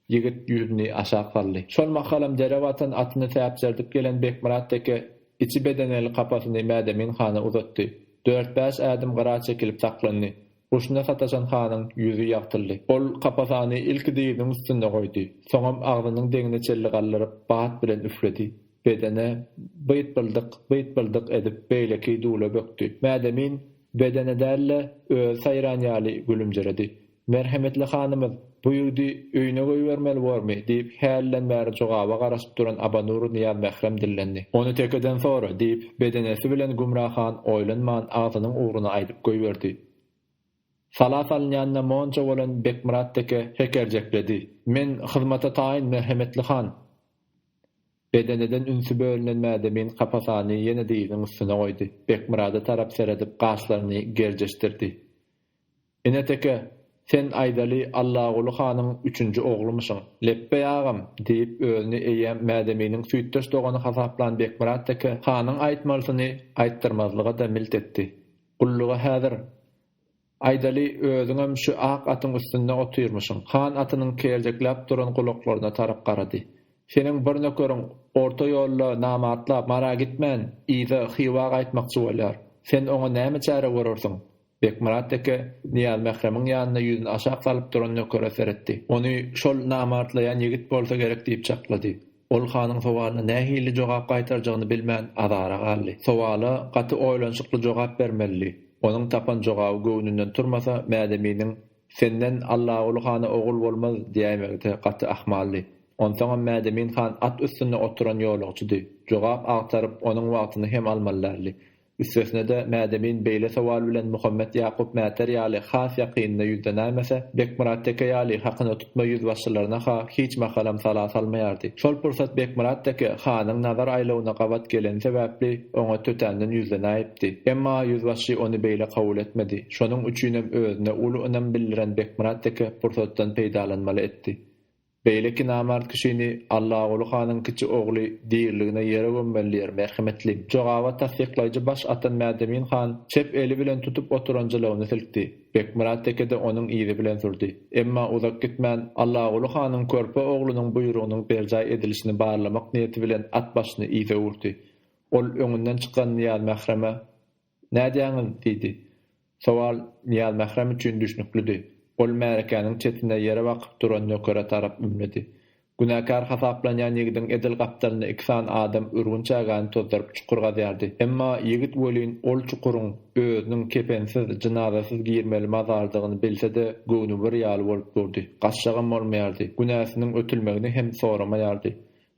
Ýigit ýüzüni aşak saldy. Şol mahalam derew atan atyny täpjerdip gelen Bekmyrat teke içi bedeneli kapasyny Mädemin hana uzatdy. Dört-bäş ädim gyra çekilip saklandy. Guşuna sataşan hanyň ýüzi ýagtyldy. Ol kapasany ilki dyzynyň üstünde goýdy. Soňam agzynyň deňini çelli galdyryp, bat bilen üfledi. Bedene byt-byldyk, byt-byldyk edip beýleki dula bökdi. Mädemin bedene däl-de, özi saýran ýaly gülümjiredi. Merhemetli hanymyz, bu ýigdi öýüne goýbermeli bormy? diýip, hälinden bäri jogaba garaşyp duran Abanur Nyýazmährem dillendi. Ony tekeden sora, diýip, bedenesi bilen Gümra han oýlanman agzynyň ugruny aýdyp goýberdi. Sala salynýanyna monça bolan Bekmyrat teke hekerjekledi. Men hyzmata taýyn, merhemetli han! Bedeneden ünsi bölünen Mädemin kapasany ýene dyzynyň üstüne goýdy. Bekmyrada tarap seredip, gaşlaryny gerjeşdirdi. Ine teke, sen aýdaly Allaguly hanyň üçünji oglumyşyň. Lepbeý agam, diýip, özüni eýýäm Mädeminiň süýtdeş dogany hasaplan Bekmyrat teke hanyň aýtmalysyny aýtdyrmazlyga-da milt etdi. Gullugy häzir, aýdaly, özüňem şu ak atyň üstünde otyrmyşyň. Han atynyň kerjekläp duran gulaklaryna tarap garady. Seniň bir nökeriň orta ýolda namatlap, Mara gitmän, yza, Hywa gaýtmakçy bolýar. Sen oňa näme çäre görersiň? Bekmyrat deke Nyýazmähremiň ýanynda ýüzüni aşak salyp duran nökere seretdi. Ony şol namartlaýan ýigit bolsa gerek diýip çaklady. Ol hanyň sowalyna nähili jogap gaýtarjagyny bilmän azara galdy. Sowala gaty oýlanyşykly jogap bermelidi. Onuň tapan jogaby göwnünden turmasa, Mädeminiň Senden Allaguly hana ogul bolmaz diýäýmegi-de gaty ahmaldy. Onsoňam Mädemin han at üstünde oturan ýolagçydy. Jogap agtaryp, onuň wagtyny hem almaly däldi. Üstesine-de, Mädemin beýle sowal bilen Muhammet Ýakup Mäter ýaly has ýakynyna ýüzlenäýmese, Bekmyrat teke ýaly hakyna tutma ýüzbaşçylaryna-ha hiç mahalam sala salmaýardy. Şol pursat Bekmyrat teke hanyň nazar aýlawyna gabat geleni sebäpli, oňa tötänden ýüzlenäýipdi. Emma ýüzbaşçy ony beýle kabul etmedi. Şonuň üçinem özüne uly ynam bildiren Bekmyrat teke pursatdan peýdalanmaly etdi. Beýleki namart kişini Allaguly hanyň kiçi ogly diriligine ýere gömmeli diýer, merhemetli. Jogabat tassyklaýjy baş atan Mädemin han çep eli bilen tutup oturan jylawyny silkdi. Bekmyrat tekede onuň yzy bilen sürdi. Emma uzak gitmän, Allaguly hanyň körpe oglunyň buýrugynyň berjaý edilişini barlamak niýeti bilen at başyny yza urdy. Ol öňünden çykan Nyýazmähreme. Nädýäňiz? diýdi. Sowal Nyýazmährem üçin düşnüklidi. Ol märekäniň çetine ýere bakyp duran nökere tarap ümledi. Günäkär hasaplanýan ýigidiň edil gapdalyna iki sany adam ürgün çägäni tozdaryp çukur gazýardy. Emma ýigit welin ol çukuryň özüniň kepensiz, jynazasyz girmeli mazardygyny bilse-de, göwni bir ýaly bolup durdy. Gaçjagam bolmaýardy. Günäsiniň ötülmegini hem soramaýardy.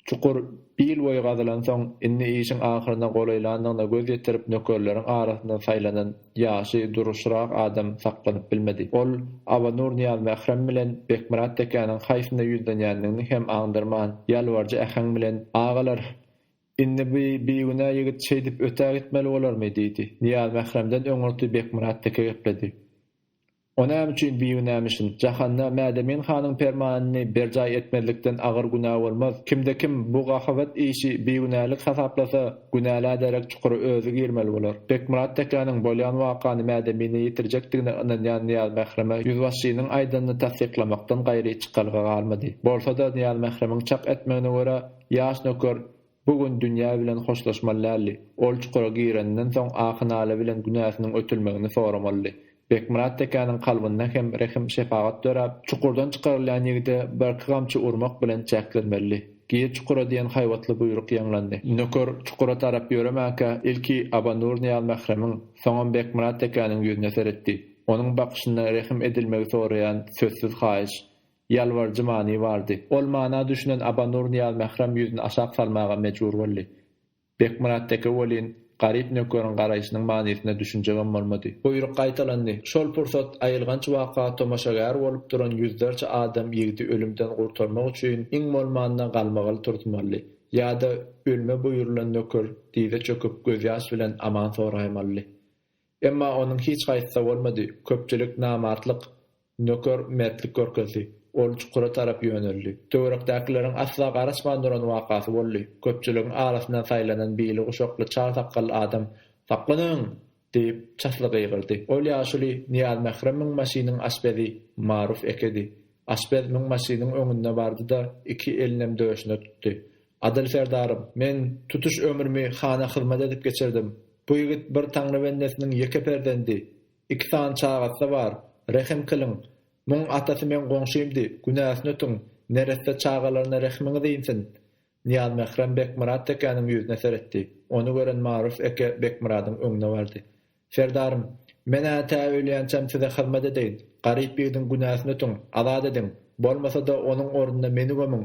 Çukur il boýy gazylansoň, indi işiň ahyryna golaýlandygyna göz ýetirip nökerleriň arasyndan saýlanan ýaşy duruşyrak adam saklanyp bilmedi. Ol Abanur Nyýazmährem bilen Bekmyrat tekäniň haýsyna ýüzlenýändigini hem aňdyrman, ýalbaryjy äheň bilen, Agalar, indi bu bigünä ýigit şeýdip ötägitmeli bolarmy? diýdi. Nyýazmähremden öňürti Bekmyrat teke gepledi. O näme üçin bigünämişin? Jahanda Mädemin hanyň permanyny berjaý etmezlikden agyr günä bolmaz. Kimde-kim bu gahabat işi bigünälik hasaplasa, günälä derek çukura özi girmeli bolar. Bekmyrat tekäniň bolýan wakany Mädemine ýetirjekdigine ynanýan Nyýazmähreme ýüzbaşynyň aýdanyny tassyklamakdan gaýry çykalga galmady. Bolsa-da, Nyýazmähremiň çak etmegine görä, ýaş nöker Bu gün dünýä bilen hoşlaşmaly däldi. Ol çukura gireninden soň ahy-nala bilen günäsiniň ötülmegini soramalydy. Bekmyrat tekäniň kalbynda hem rehim-şepagat döräp, çukurdan çykarylýan ýigide birki gamçy urmak bilen çäklenmelidi. Gir çukura diýen haýbatly buýruk ýaňlandy. Nöker çukura tarap ýöremäkä, ilki Aba Nurnyýaz mähremiň, soňam Bekmyrat tekäniň ýüzüne seretdi. Onuň bakyşynda rehim edilmegi soraýan sözsüz haýyş. Ýalbaryjy many bardy. Ol mana düşünen Aba Nur Nyýazmährem ýüzüni aşak salmaga mejbur boldy. Bekmyrat deke welin, garyp nökeriň garaýşynyň manysyna düşünjegem bolmady. Buýruk gaýtalandy. Şol pursat aýylganç waka tomaşagär bolup duran ýüzlerçe adam ýigdi ölümden gurtarmak üçin iň bolmanda galmagaly turtmaly ýa-da ölme buýrulan nöker dyza çöküp gözýaş bilen aman soraýmaly. Emma onuň hiç haýsy-da bolmady, köpçülik namartlyk, nöker mertlik görkezdi. Ol çukura tarap ýöneldi. Töwerekdäkileriň asla garaşman duran wakasy boldy. Köpçüligiň arasyndan saýlanan bili guşakly çal sakgally adam, Saklanyň! diýip, çasly gygyrdy. Ol ýaşuly Nyýazmährem müňbaşynyň aşpezi Maruf ekedi. Aşpez müňbaşynyň öňünde bardy-da, iki elinem döşüne tutdy. Adyl Serdarow, Men tutuş ömrümi hana hyzmat edip geçirdim. Bu ýigit bir Taňry bendesiniň ýeke perzendi. Iki sany çagasy-da bar. Rehim kylyň. Muň atasy meň goňşymdy, günäsini ötüň, neresse çagalaryna rehimiňiz insin. Nyýazmährem Bekmyrat tekäniň ýüzüne seretdi. Ony gören Maruf eke Bekmyradyň öňüne bardy. Serdarym, men-ä tä ölýänçäm size hyzmat edeýin. Garyp ýigidiň günäsini ötüň, azat ediň. Bolmasa-da onuň ornuna meni gömüň.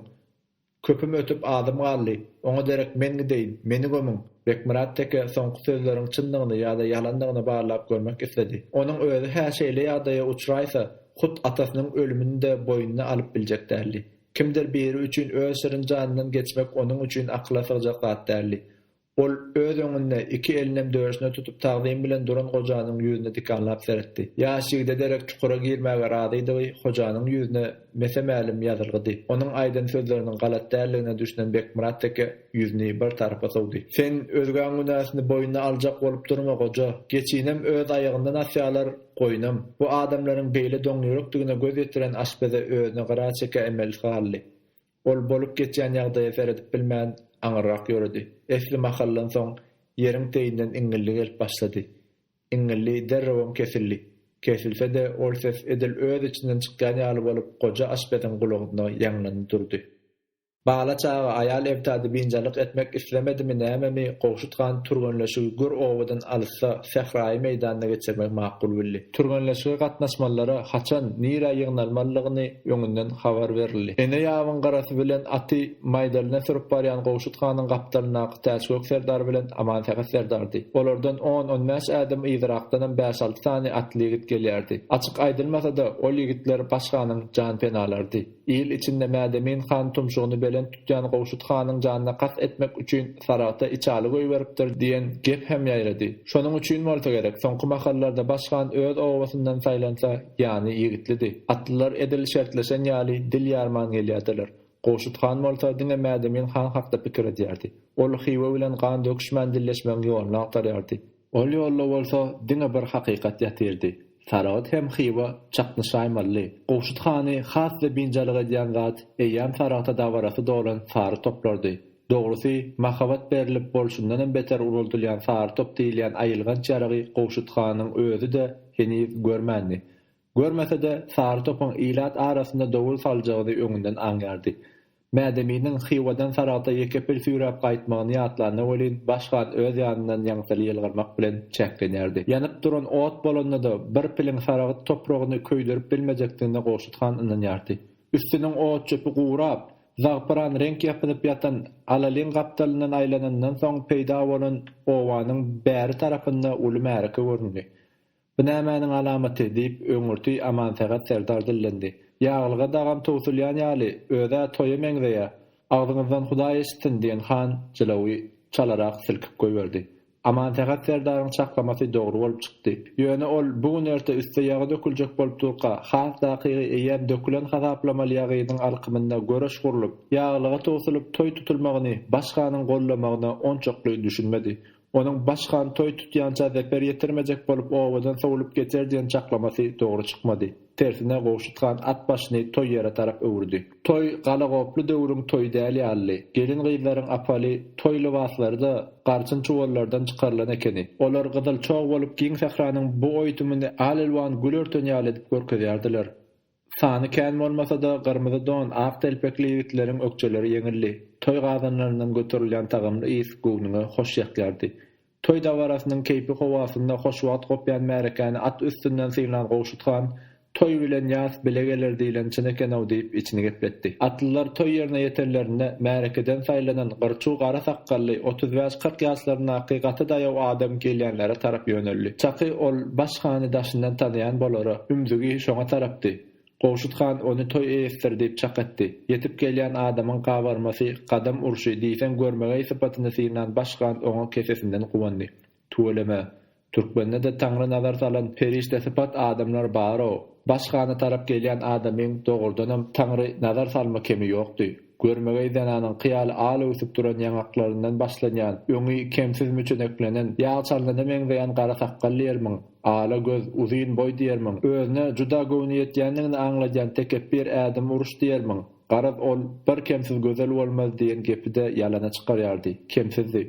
Köpüm ötüp azym galdy. Oňa derek men gideýin, meni gömüň! Bekmyrat teke soňky sözleriň çyndygyny ýa-da ýalandygyny barlap görmek isledi. Onuň özi-hä şeýle ýagdaýa uçraýsa, hut atasynyň ölümini-de boýnuna alyp biljek däldi. Kimdir biri üçin öz şirin janyndan geçmek onuň üçin akyla sygjak zat däldi. Ol öz öňünde iki elinem döşüne tutup tagzym bilen duran gojanyň ýüzüne dikanlap seretdi. Ýaş ýigide derek çukura girmäge razydygy hojanyň ýüzüne mese-mälim ýazylgydy. Onuň aýdan sözleriniň galat däldigine düşünen Bekmyrat teke ýüzüni bir tarapa sowdy. Sen özgäň günäsini boýnuna aljak bolup durma, goja. Geçinem öz aýagyndan asýalar, goýnam. Bu adamlaryň beýle doňýürekdigine göz ýetiren aşpeze özüni gyra çeke emelsi galdy. Ol bolup geçýän ýagdaýa seredip bilmän, aňyrrak ýöredi. Esli mahaldan soň, ýeriň teýinden iňňildi gelip başlady. Iňňildi derrewem kesildi. Kesilse-de, ol ses edil öz içinden çykýan ýaly bolup, goja aşpeziň gulagynda ýaňlanyp durdy. Bala çaga, aýal ebtady biynjalyk etmek islemedimi, nämemi, Gowşut han türgenleşigi gür obadan alysda, sähraýy meýdanda geçirmegi makul bildi. Türgenleşige gatnaşmalylara haçan, nirä ýygnalmalydygyny öňünden habar berildi. Ene ýabyň garasy bilen aty maýdalyna sürüp barýan Gowşut hanyň gapdalyndaky Täçgök serdar bilen Amansähet serdardy. Olardan on-on bäş ädim yzyrakdanam bäş-alty sany atly ýigit gelýärdi. Açyk aýdylmasa-da, ol ýigitler baş hanyň janpenalarydy. Il içinde Mädemin han tumşugyny belent tutýan Gowşut hanyň janyna kast etmek üçin Saragta içaly goýberipdir diýen gep hem ýaýrady. Şonuň üçin bolsa gerek, soňky mahallarda baş han öz obasyndan saýlansa, ýany ýigitlidi. Atlylar edil şertleşen ýaly dil ýarman gelýärdiler. Gowşut han bolsa diňe Mädemin han hakda pikir edýärdi. Ol Hywa bilen gan döküşmän dilleşmegiň ýoluny agtarýardy. Ol ýolda bolsa diňe bir hakykat ýatyrdy. Saragt hem Hywa çaknyşaýmalydy. Gowşut hany has-da biynjalyk edýän zat eýýäm Saragta dabarasy dolan sary toplardy. Dogrusy, mahabat berlip bolşundanam beter uruldylýan sary top diýilýän aýylganç ýaragy Gowşut hanyň özi-de heniz görmändi. Görmese-de, Sary topuň ilat arasynda dowul saljagyny öňünden aňýardy. Mädeminiň Hywadan Saragta ýeke-pil süýräp gaýtmagyny ýatlanda welin, baş gan öz ýanyndan ýaňsyly ýylgyrmak bilen çäklenýärdi. Ýanyp duran ot bolanda-da, bir piliň Saragyt topragyny köýderip bilmejekdigine Gowşut han ynanýardy. Üstüniň ot-çöpi gurap, zagpyran reňk ýapynyp ýatan Alaliň gapdalyndan aýlanyndan soň peýda bolan obanyň bäri tarapynda uly märeke göründi. Bu nämäniň alamaty? diýip, öňürti Amansähet serdar dillendi. Ýaglyga dagam towsulýan ýaly, öz-ä toýa meňzeýä. Agzyňyzdan Hudaý eşitsin, diýen han jylawy çalarak silkip goýberdi. Amansähet serdaryň çaklamasy dogry bolup çykdy. Ýöne ol bu gün-erte üste ýagy döküljek bolup durka, has takygy eýýäm dökülen hasaplamaly ýagynyň alkymynda göreş gurlup, ýaglyga towsulyp toý tutulmagyny baş hanyň goldamagyna onçakly düşünmedi. Onuň Baş han toý tutýança zeper ýetirmejek bolup obadan sowlup geçer diýen çaklamasy dogry çykmady. Tersine Gowşut han at başyny toý ýere tarap öwürdi. Toý galagoply döwrüň toýy däl ýalydy. Gelin-gyzlaryň apaly toý lybaslary-da garçyn çuwallardan çykarylan ekeni. Olar gyzyl çog bolup giň sähranyň bu oýtumyny al-elwan gül örten ýaly edip görkezýärdiler. Sany kän bolmasa-da, gyrmyzy don, ak telpekli ýigitleriň ökjeleri ýeňildi. Toý gazanlaryndan göterilýän tagamly ys göwnüňe hoş ýakýardy. Toý dabarasynyň keýpi howasynda hoş wagt gopýan märekäni at üstünden synlan Gowşut han, Toý bilen ýas bile geler diýlen çyn eken-ow diýip, içini gepletdi. Atlylar toý ýerine ýetenlerinde, märekeden saýlanan gyr-çuw gara sakgally, otuz bäş-kyrk ýaşlaryndaky gaty daýaw adam gelýänlere tarap ýöneldi. Çaky ol, baş. Gowşut hany daşyndan tanaýan bolara, ümzügi şoňa tarapdy. Gowşut han ony toý eýesidir diýip çak etdi. Ýetip gelýän adamyň gabarmasy, gadam urşy, diýseň görmegeý sypatyny synan baş han oňa kesesinden guwandy. Tüweleme. Türkmende-de Taňry nazar salan perişdesypat adamlar bar-ow. Baş hana tarap gelýän adamyň dogrudanam Taňry nazar salma kemi ýokdy. Görmegeý zenanyňky ýaly al öwsüp duran ýaňaklaryndan başlanýan, öňi kemsiz müçeneklenen, ýag çalynyna meňzeýän gara sakgal diýermiň, ala göz, uzyn boý diýermiň, özüne juda göwni ýetýändigini aňladýan tekepbir ädim uruş diýermiň? Garaz, ol, Bir kemsiz gözel bolmaz diýen gepi-de ýalana çykarýardy. Kemsizdi.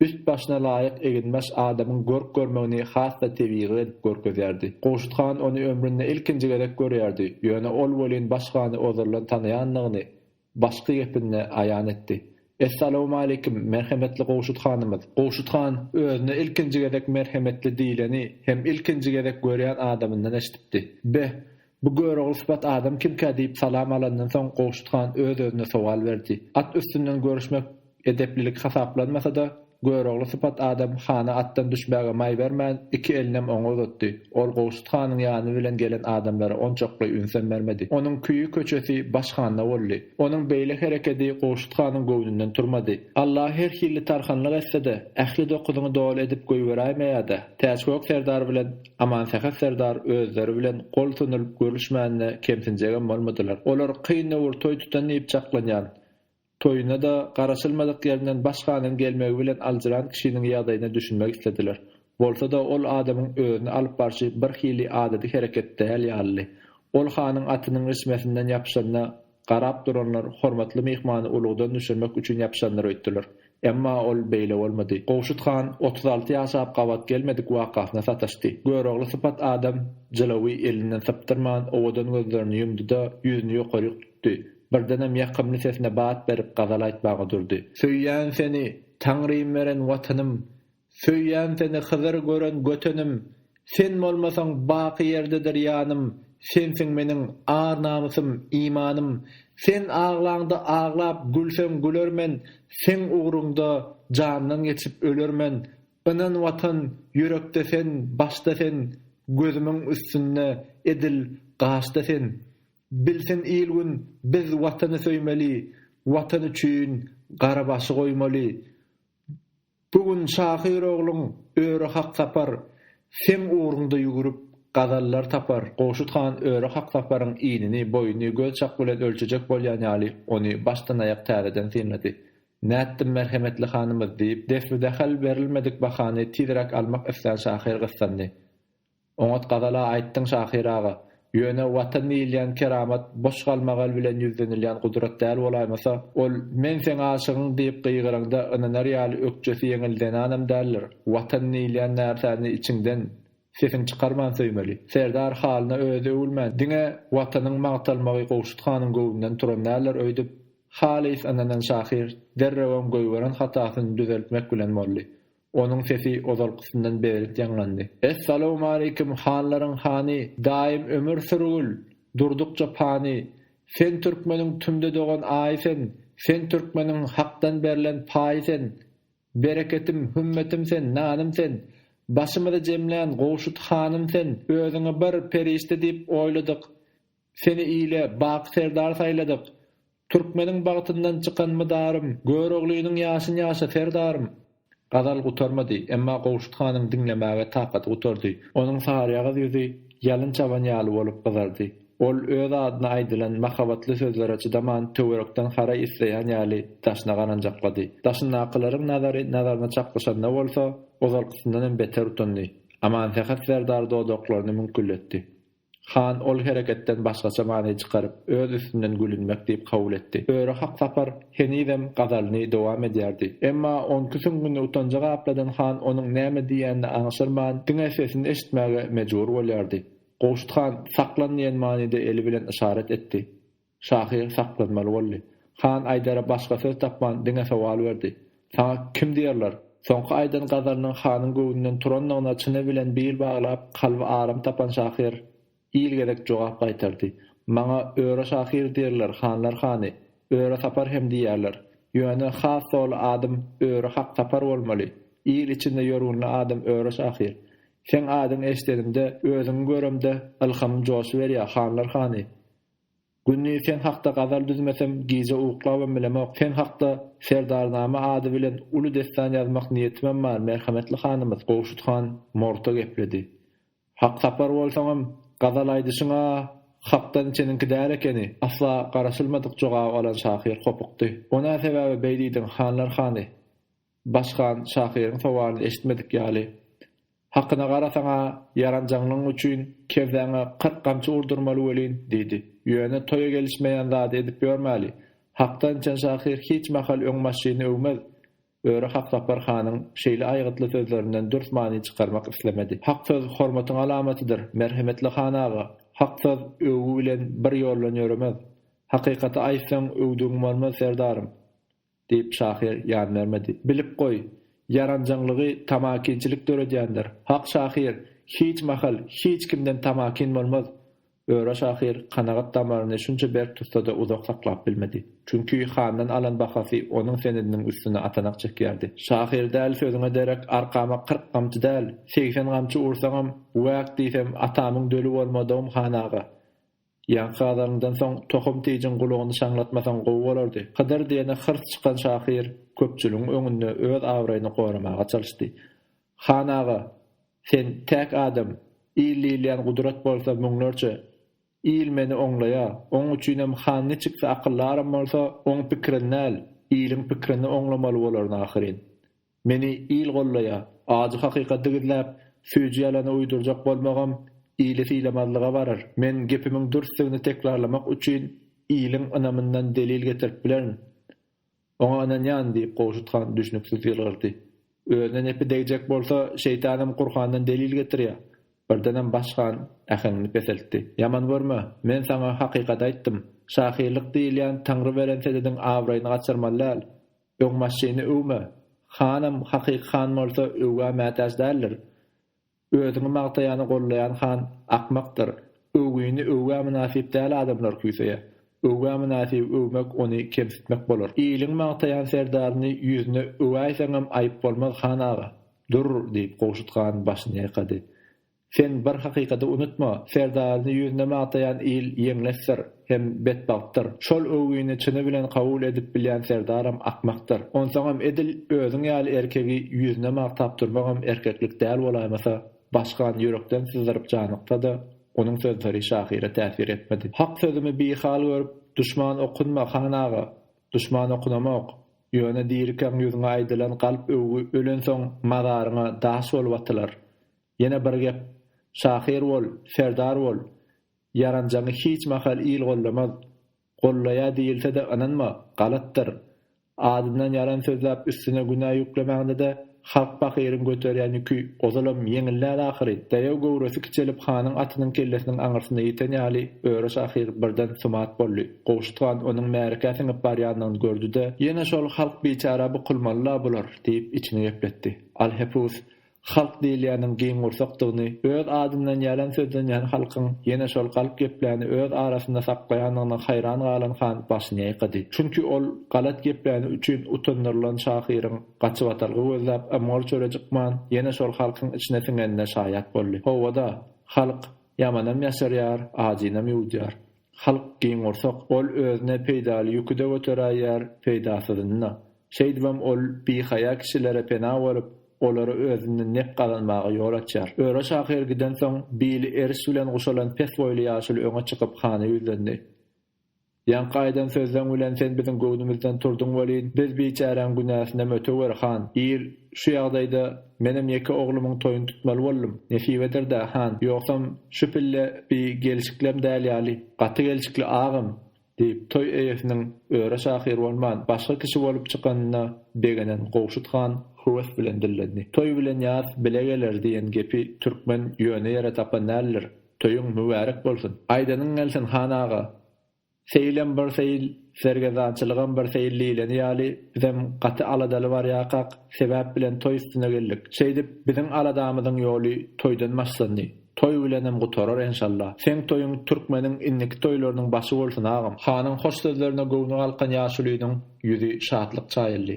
Üst-başyna laýyk eginbaş adamyň görk-görmegini has-da tebigy edip görkezýärdi. Gowşut han ony ömründe ilkinji gezek görýärdi, ýöne ol welin baş hany ozaldan tanaýandygyny başky gepinde aýan etdi. Essalawmaleýkim, merhemetli Gowşut hanymyz! Gowşut han özüne ilkinji gezek merhemetli diýleni hem ilkinji gezek görýän adamyndan eşidipdi. Beh, Bu Görogly sypat adam kimkä diýip salam alandan soň Gowşut han öz-özüne sowal berdi. At üstünden görüşmek edeplilik hasaplanmasa-da, Görogly sypat adam hana atdan düşmäge maý bermän, iki elinem oňa uzatdy. Ol Gowşut hanyň ýany bilen gelen adamlara onçakly ünsem bermedi. Onuň küýi köçesi baş handa boldy. Onuň beýle herekedi Gowşut hanyň göwnünden turmady. Alla her hilli tarhanlyk etse-de, ähli dokuzyňy doly edip goýberäýmeýä-dä, Täçgök serdar bilen Amansähet serdar özleri bilen gol sunduryp görüşmänine kemsinjegem bolmadylar. Olar kyn döwür toý tutan diýip çaklanýan. Toýuna-da garaşylmadyk ýerinden baş hanyň gelmegi bilen aljyran kişiniň ýagdaýyna düşünmek islediler. Bolsa-da ol adamyň özüni alyp barşy birhili adaty hereket däl ýalydy. Ol hanyň atynyň rişmesinden ýapyşanda, Garap duranlar hormatly myhmany ulagdan düşürmek üçin ýapyşandyr öýtdüler. Emma ol beýle bolmady. Gowşut han otuz alty ýaşap gabat gelmedik wakasyna sataşdy. Görogly sypat adam jylawy elinden sypdyrman owadan gözlerini ýumdy-da, ýüzüni ýokaryk tutdy. Birdenem ýakymly sesine bat berip gazal aýtmaga durdy. Söýýän seni, Taňrym beren Watanym! Söýýän seni Hyzyr gören götenim, Sen bolmasaň baky ýerdedir ýanym, Sensiň meniň ar-namysym, imanym, Sen aglaňda aglap, gülseň gülermen, Seň ugruňda jandan geçip ölermen, Ynan Watan, ýürekde sen, başda sen, Gözümiň üstünde, edil gaşda sen. Bilsin il-gün, biz Watany söýmeli, Watan üçin gara başy goýmaly. Bu gün şahyr ogluň öri hak tapar, Seň ugruňda ýügürip, gazallar tapar. Gowşut han öri hak taparyň inini, boýuny göz çak bilen ölçejek bolýan ýaly, ony başdan-aýak täzeden synlady. Nätdim, merhemetli hanymyz! diýip, desbi-dahal berilmedik bahany tizräk almak islän şahyr gyssandy. Oňat gazala aýtdyň şahyr aga. Ýöne Watan diýilýän keramat boş galmagal bilen ýüzlenilýän gudrat däl bolaýmasa, ol Men seň aşygyň diýip gygyraňda ynanar ýaly ökjesi ýeňil zenanam däldir. Watan diýilýän närsäni içiňden, sesiň çykarman söýmeli. Serdar halyna özi öwülmän, diňe Watanyň magtalmagy Gowşut hanyň göwnünden turan däldir öýdüp, halys ynanan şahyr derrewem goýberen hatasyny düzeltmek bilen boldy. Onuň sesi ozalkysyndan beýerik ýaňlandy. Essalawmaleýkim, hanlaryň hany, daýym ömür sürgül, durdukça pany! Sen türkmeniň tümde dogan aýy sen, sen türkmeniň Hakdan berlen paýy sen! Bereketim, hümmetim sen, nanym sen! Başymyzy jemlän gowşut hanym sen! Özüňi bir perişde diýip oýladyk, Seni ile, baky serdar saýladyk. Türkmeniň bagtyndan çykan mydarym, Göroglynyň ýaşyn ýaşa, serdarym! Gazal gutarmady, emma Gowşut hanyň diňlemäge takaty gutardy. Onuň saryýagyz ýüzi ýalyn çaban ýaly bolup gyzardy. Ol öz adyna aýdylan mahabatly sözlere çydaman, töwerekden haraý isleýän ýaly daşyna garanjaklady. Daşyndakylaryň nazary nazaryna çaknyşanda bolsa, ozalkysyndan hem beter utandy. Amansähet serdar dodaklaryny müňkülletdi. Han ol hereketden başgaça many çykaryp, öz üstünden gülünmek diýip kabul etdi. Öri Haksapar henizem gazalyny dowam edýärdi. Emma onki süňňüni utanja gapladan han onuň näme diýýänini aňşyrman, diňe sesini eşitmäge mejbur bolýardy. Gowşut han saklan diýen manyda eli bilen yşarat etdi. Şahyr saklanmaly boldy. Han Aýdere başga söz tapman, diňe sowal berdi. Saňa kim diýerler? Soňky aýdan gazalynyň hanyň göwnünden turandygyna çyny bilen bil baglap, kalby aram tapan şahyr il gezek jogap gaýtardy. Maňa Öre şahyr diýerler, hanlar hany. Öre Sapar hem diýýärler. Ýöne has doly adym Öre Hak Sapar bolmaly. Il içinde ýörgünli adym Öre şahyr. Seň adyňy eşidenimde, özüňi göremde ylhamym joşuberýär, hanlar hany. Gündiz sen hakda gazal düzmesem, gije uklabam bilemok, sen hakda Serdarnama ady bilen uly dessan ýazmak niýetimem bar, merhemetli hanymyz, Gowşut han morta gepledi. Haksapar bolsaňam, gazal aýdyşyň-a hakdan içeniňki däl ekeni, asla garaşylmadyk jogaby alan şahyr hopukdy. O nä sebäbe beý diýdiň, hanlar hany? Başkan şahyryň sowalyny eşitmedik ýaly. Hakyna garasaň-a, ýaranjaňlygyň üçin kebsäňe kyrk gamçy urdurmaly welin, diýdi. Ýöne toýa gelişmeýän zady edip ýörmäli. Hakdan içen şahyr hiç mahal öň maşyny öwmez. Öri Haksapar hanyň şeýle aýgytly sözlerinden dürs many çykarmak islemedi. Hak söz hormatyň alamatydyr, merhemetli han aga. Hak söz öwgi bilen bir ýoldan ýöremez. Hakykaty aýtsaň, öwdügiň bolmaz, serdarym. Diýip, şahyr ýan bermedi. Bilip goý, ýaranjaňlygy tamakinçilik döredýändir. Hak şahyr, hiç mahal, hiç kimden tamakin bolmaz. Öra şahyr kanagat damaryny şunça berk tutsa-da uzak saklap bilmedi. Çünki handan alan bahasy onuň senediniň üstüne atanak çekýärdi. Şahyr däl sözüňe derek arkama kyrk gamçy däl, segsen gamçy ursaňam, wäk diýsem, atamyň döli bolmadygym han aga. Ýaňky gazalyňdan soň tohum tijiň gulugyny şaňlatmasaň gowy bolardy. Hydyr diýene hyrs çykan şahyr köpçüligiň öňünde öz abraýyny goramaga çalyşdy. Han aga, sen täk adam, il diýilýän gudrat bolsa müňlerçe. Il meni oňlaýa, oň üçinem han niçiksi akyldaram bolsa, oň pikirin däl, iliň pikirini oňlamaly bolaryn ahyryn. Meni il gollaýa. Ajy hakykaty gizläp, süýji ýalany uýdurjak bolmagam ili sylamazlyga barar. Men gepimiň dürsdügini tekrarlamak üçin iliň ynamyndan delil getirip bilerin. Oňa ynanýan, diýip, Gowşut han düşnüksiz ýylgyrdy. Özüne nepi degjek bolsa, şeýtanam Gurhandan delil getirýä. Birdenem Baş han äheňini peseltdi. Ýaman görme. Men saňa hakykaty aýtdym. Şahyrlyk diýilýän Taňry beren sedediň abraýyny gaçyrmaly däl. Öňbaşçyny öwme. Hanam hakyky han bolsa öwgä mätäç däldir. Özüňi magtaýany gollaýan han akmakdyr. Öwgini öwgä mynasyp däl adamlar küýseýä. Öwgä mynasyby öwmek ony kemsitmek bolar. Iliň magtaýan serdaryny ýüzüne öwäýseňem aýyp bolmaz han aga. Durr, diýip Gowşut han başyny ýaýkady. Sen bir hakykady unutma, serdaryny ýüzüne magtaýan il ýeňlesdir hem betbagtdyr. Şol öwgini çyny bilen kabul edip bilýän serdaram akmakdyr. Onsoňam edil özüň ýaly erkegi ýüzüne magtap durmagam erkeklik däl bolaýmasa, Başkan ýürekden syzdyryp janyksa-da, onuň sözleri şahyra täsir etmedi. Hak sözümi bihal görüp, duşman okunma, han aga! Duşman okunamok. Ýöne dirikäň ýüzüňe aýdylan galp öwgi ölensoň mazaryňa daş bolup atylar. Ýene bir gep, şahyr bol, serdar bol, ýaranjaňy hiç mahal il gollamaz. Gollaýar diýilse-de ynanma, galatdyr. Adyndan ýalan sözläp üstüne günä ýüklemäňde-de halk pahyryň göterýän ýüki ozalam ýeňillär ahyry. Daýaw göwresi kiçelip hanyň atynyň kellesiniň aňyrsyna ýeten ýaly Öre şahyr birden sumat boldy. Gowşut han onuň märekä siňip barýanyny gördi-de. Ýene şol halk biçära bukulmaly-la bular, diýip içini gepletdi. Alhepus, Halk diýilýäniň giň gursakdygyny, öz adyndan ýalan sözlenýän halkyň ýene şol galp gepläni öz arasynda saklaýandygyna haýran galan han başyny ýaýkady. Çünki ol galat gepläni üçin utandyrylan şahyryň gaçybatalga gözläp ymgyr çöre cykman ýene şol halkyň içine siňenine şaýat boldy. Hawa-da, halk, ýamanam ýaşarýar, ajynam ýuwudýar. Halk giňgursak, ol özüne peýdaly ýüki-de göteräýýär, peýdasyzyny-da. Şeýdibem ol bihaýa kişilere pena bolup, olara özünden nep gazanmaga ýol açýar. Öre şahyr gidensoň, bili eriş bilen guşalan pes boýly ýaşuly öňe çykyp, hana ýüzlendi. Ýaňky aýdan sözleň bilen sen biziň göwnümizden turduň welin, biz biçäräň günäsinem ötewer, han! Il şu ýagdaýda. Menem ýeke oglumyň toýuny tutmaly boldum. Nesibedir-dä, han, ýogsam şu pille bi gelşiklem däl ýaly. Gaty gelşikli agam! diýip, toý eýesiniň öre şahyr bolman, başga kişi bolup çykanyna begenen Gowşut han höwes bilen dillendi. Toý bilen ýas bile geler diýen gepi türkmen ýöne ýere tapan däldir. Toýuň mübärek bolsun! Aýdanyň gelsin, han aga! Seýilem bir seýil, sergezdançylygam bir seýil diýleni ýaly, bizem gaty aladaly barýakak, sebäp bilen toý üstüne geldik. Şeýdip, biziň aladamyzyň ýoly toýdan başlandy. Toý bilenem gutarar, enşalla. Seň toýuň türkmeniň indiki toýlarynyň başy bolsun, agam! Hanyň hoş sözlerine göwni galkan ýaşulynyň ýüzi şatlyk çaýyldy.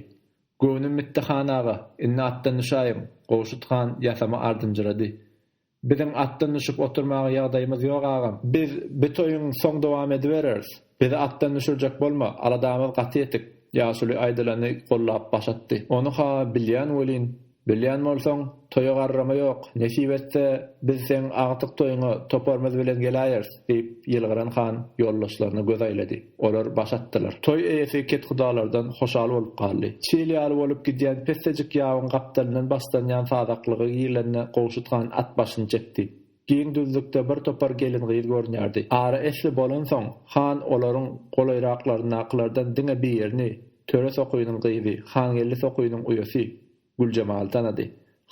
Göwnüm bitdi, han aga, indi atdan düşäýiň! Gowşut han ýasama ardynjyrady. Biziň atdan düşüp oturmaga ýagdaýymyz ýok agam. Biz bu toýuň soň dowam edibereris. Bizi atdan düşürjek bolma, aladamyz gaty ýetik. Ýaşuly aýdylany gollap baş atdy. Ony-ha bilýän welin, bilýän bolsaň, toýa garrama ýok. Nesip etse, biz seň agtyk toýuňa toparymyz bilen geläýeris. Diýip, ýylgyran han ýoldaşlaryna göz aýlady. Olar baş atdylar. Toý eýesi kethudalardan hoşal bolup galdy. Çil ýaly bolup gidýän pessejik ýabyň gapdalyndan başlanýan sazaklyga girlende Gowşut han at başyny çekdi. Giň düzlükde bir topar gelin-gyz görünýärdi. Ara esli bolansoň, han olaryň golaýraklaryndakylardan diňe birini, Töre sokynyň gyzy, Hangeldi sokynyň uýasy, Güljemaly tanady.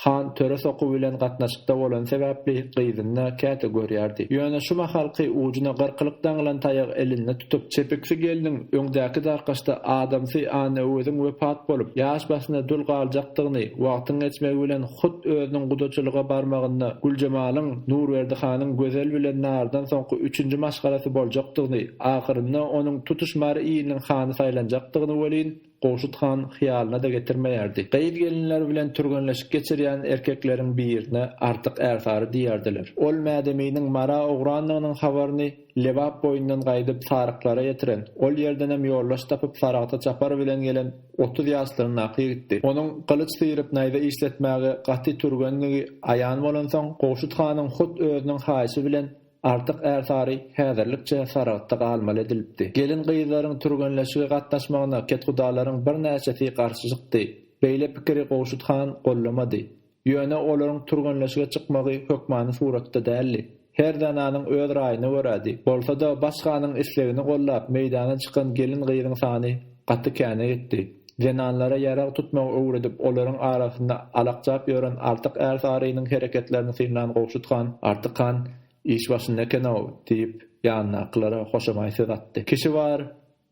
Han töre sokuw bilen gatnaşykda bolany sebäpli gyzyny-da käte görýärdi. Ýöne şu mahalky ujuna gyrkylyk daňylan taýagy elinde tutup, çepiksi gelniň öňdäki darkaşda adamsy Annaöweziň wepat bolup, ýaş başyna dul galjakdygyny, wagtyň geçmegi bilen hut özüniň gudaçylyga barmagynda Güljemalyň Nurberdi hanyň Gözel bilen Nardan soňky üçünji maşgalasy boljakdygyny, ahyrynda onuň tutuş Mary iliniň hany saýlanjakdygyny welin, Gowşut han hyýalyna-da getirmeýärdi. Gyz-gelinler bilen türgenleşik geçirýän erkekleriň birine Artyk ärsary diýerdiler. Ol Mädeminiň Mara ugrandygynyň habaryny Lebap boýundan gaýdyp Saryklara ýetiren, ol ýerdenem ýoldaş tapyp Saragta çapar bilen gelen otuz ýaşlaryndaky ýigitdi. Onuň gylyç syryp naýza işletmäge gaty türgendigi aýan bolansoň, Gowşut hanyň hut özüniň haýyşy bilen Artyk Ärsary häzirlikçe Saragtda galmaly edilipdi. Gelin-gyzlaryň türgenleşige gatnaşmagyna kethudalaryň birnäçesi garşy çykdy. Beýle pikiri Gowşut han gollamady. Ýöne olaryň türgenleşige çykmagy hökmany suratda däldi. Her zenanyň öz raýyna görädi. Bolsa-da, baş hanyň islegini gollap meýdana çykan gelin-gyzyň sany Gaty käne gitdi. Zenanlara ýarag tutmagy öwredip, olaryň arasynda alakjap ýören Artyk är sarynyň hereketlerini synlan Gowşut han, Artyk han iş başynda eken-ow! diýip, ýanyndakylara hoşamaý söz atdy. Kişi bar,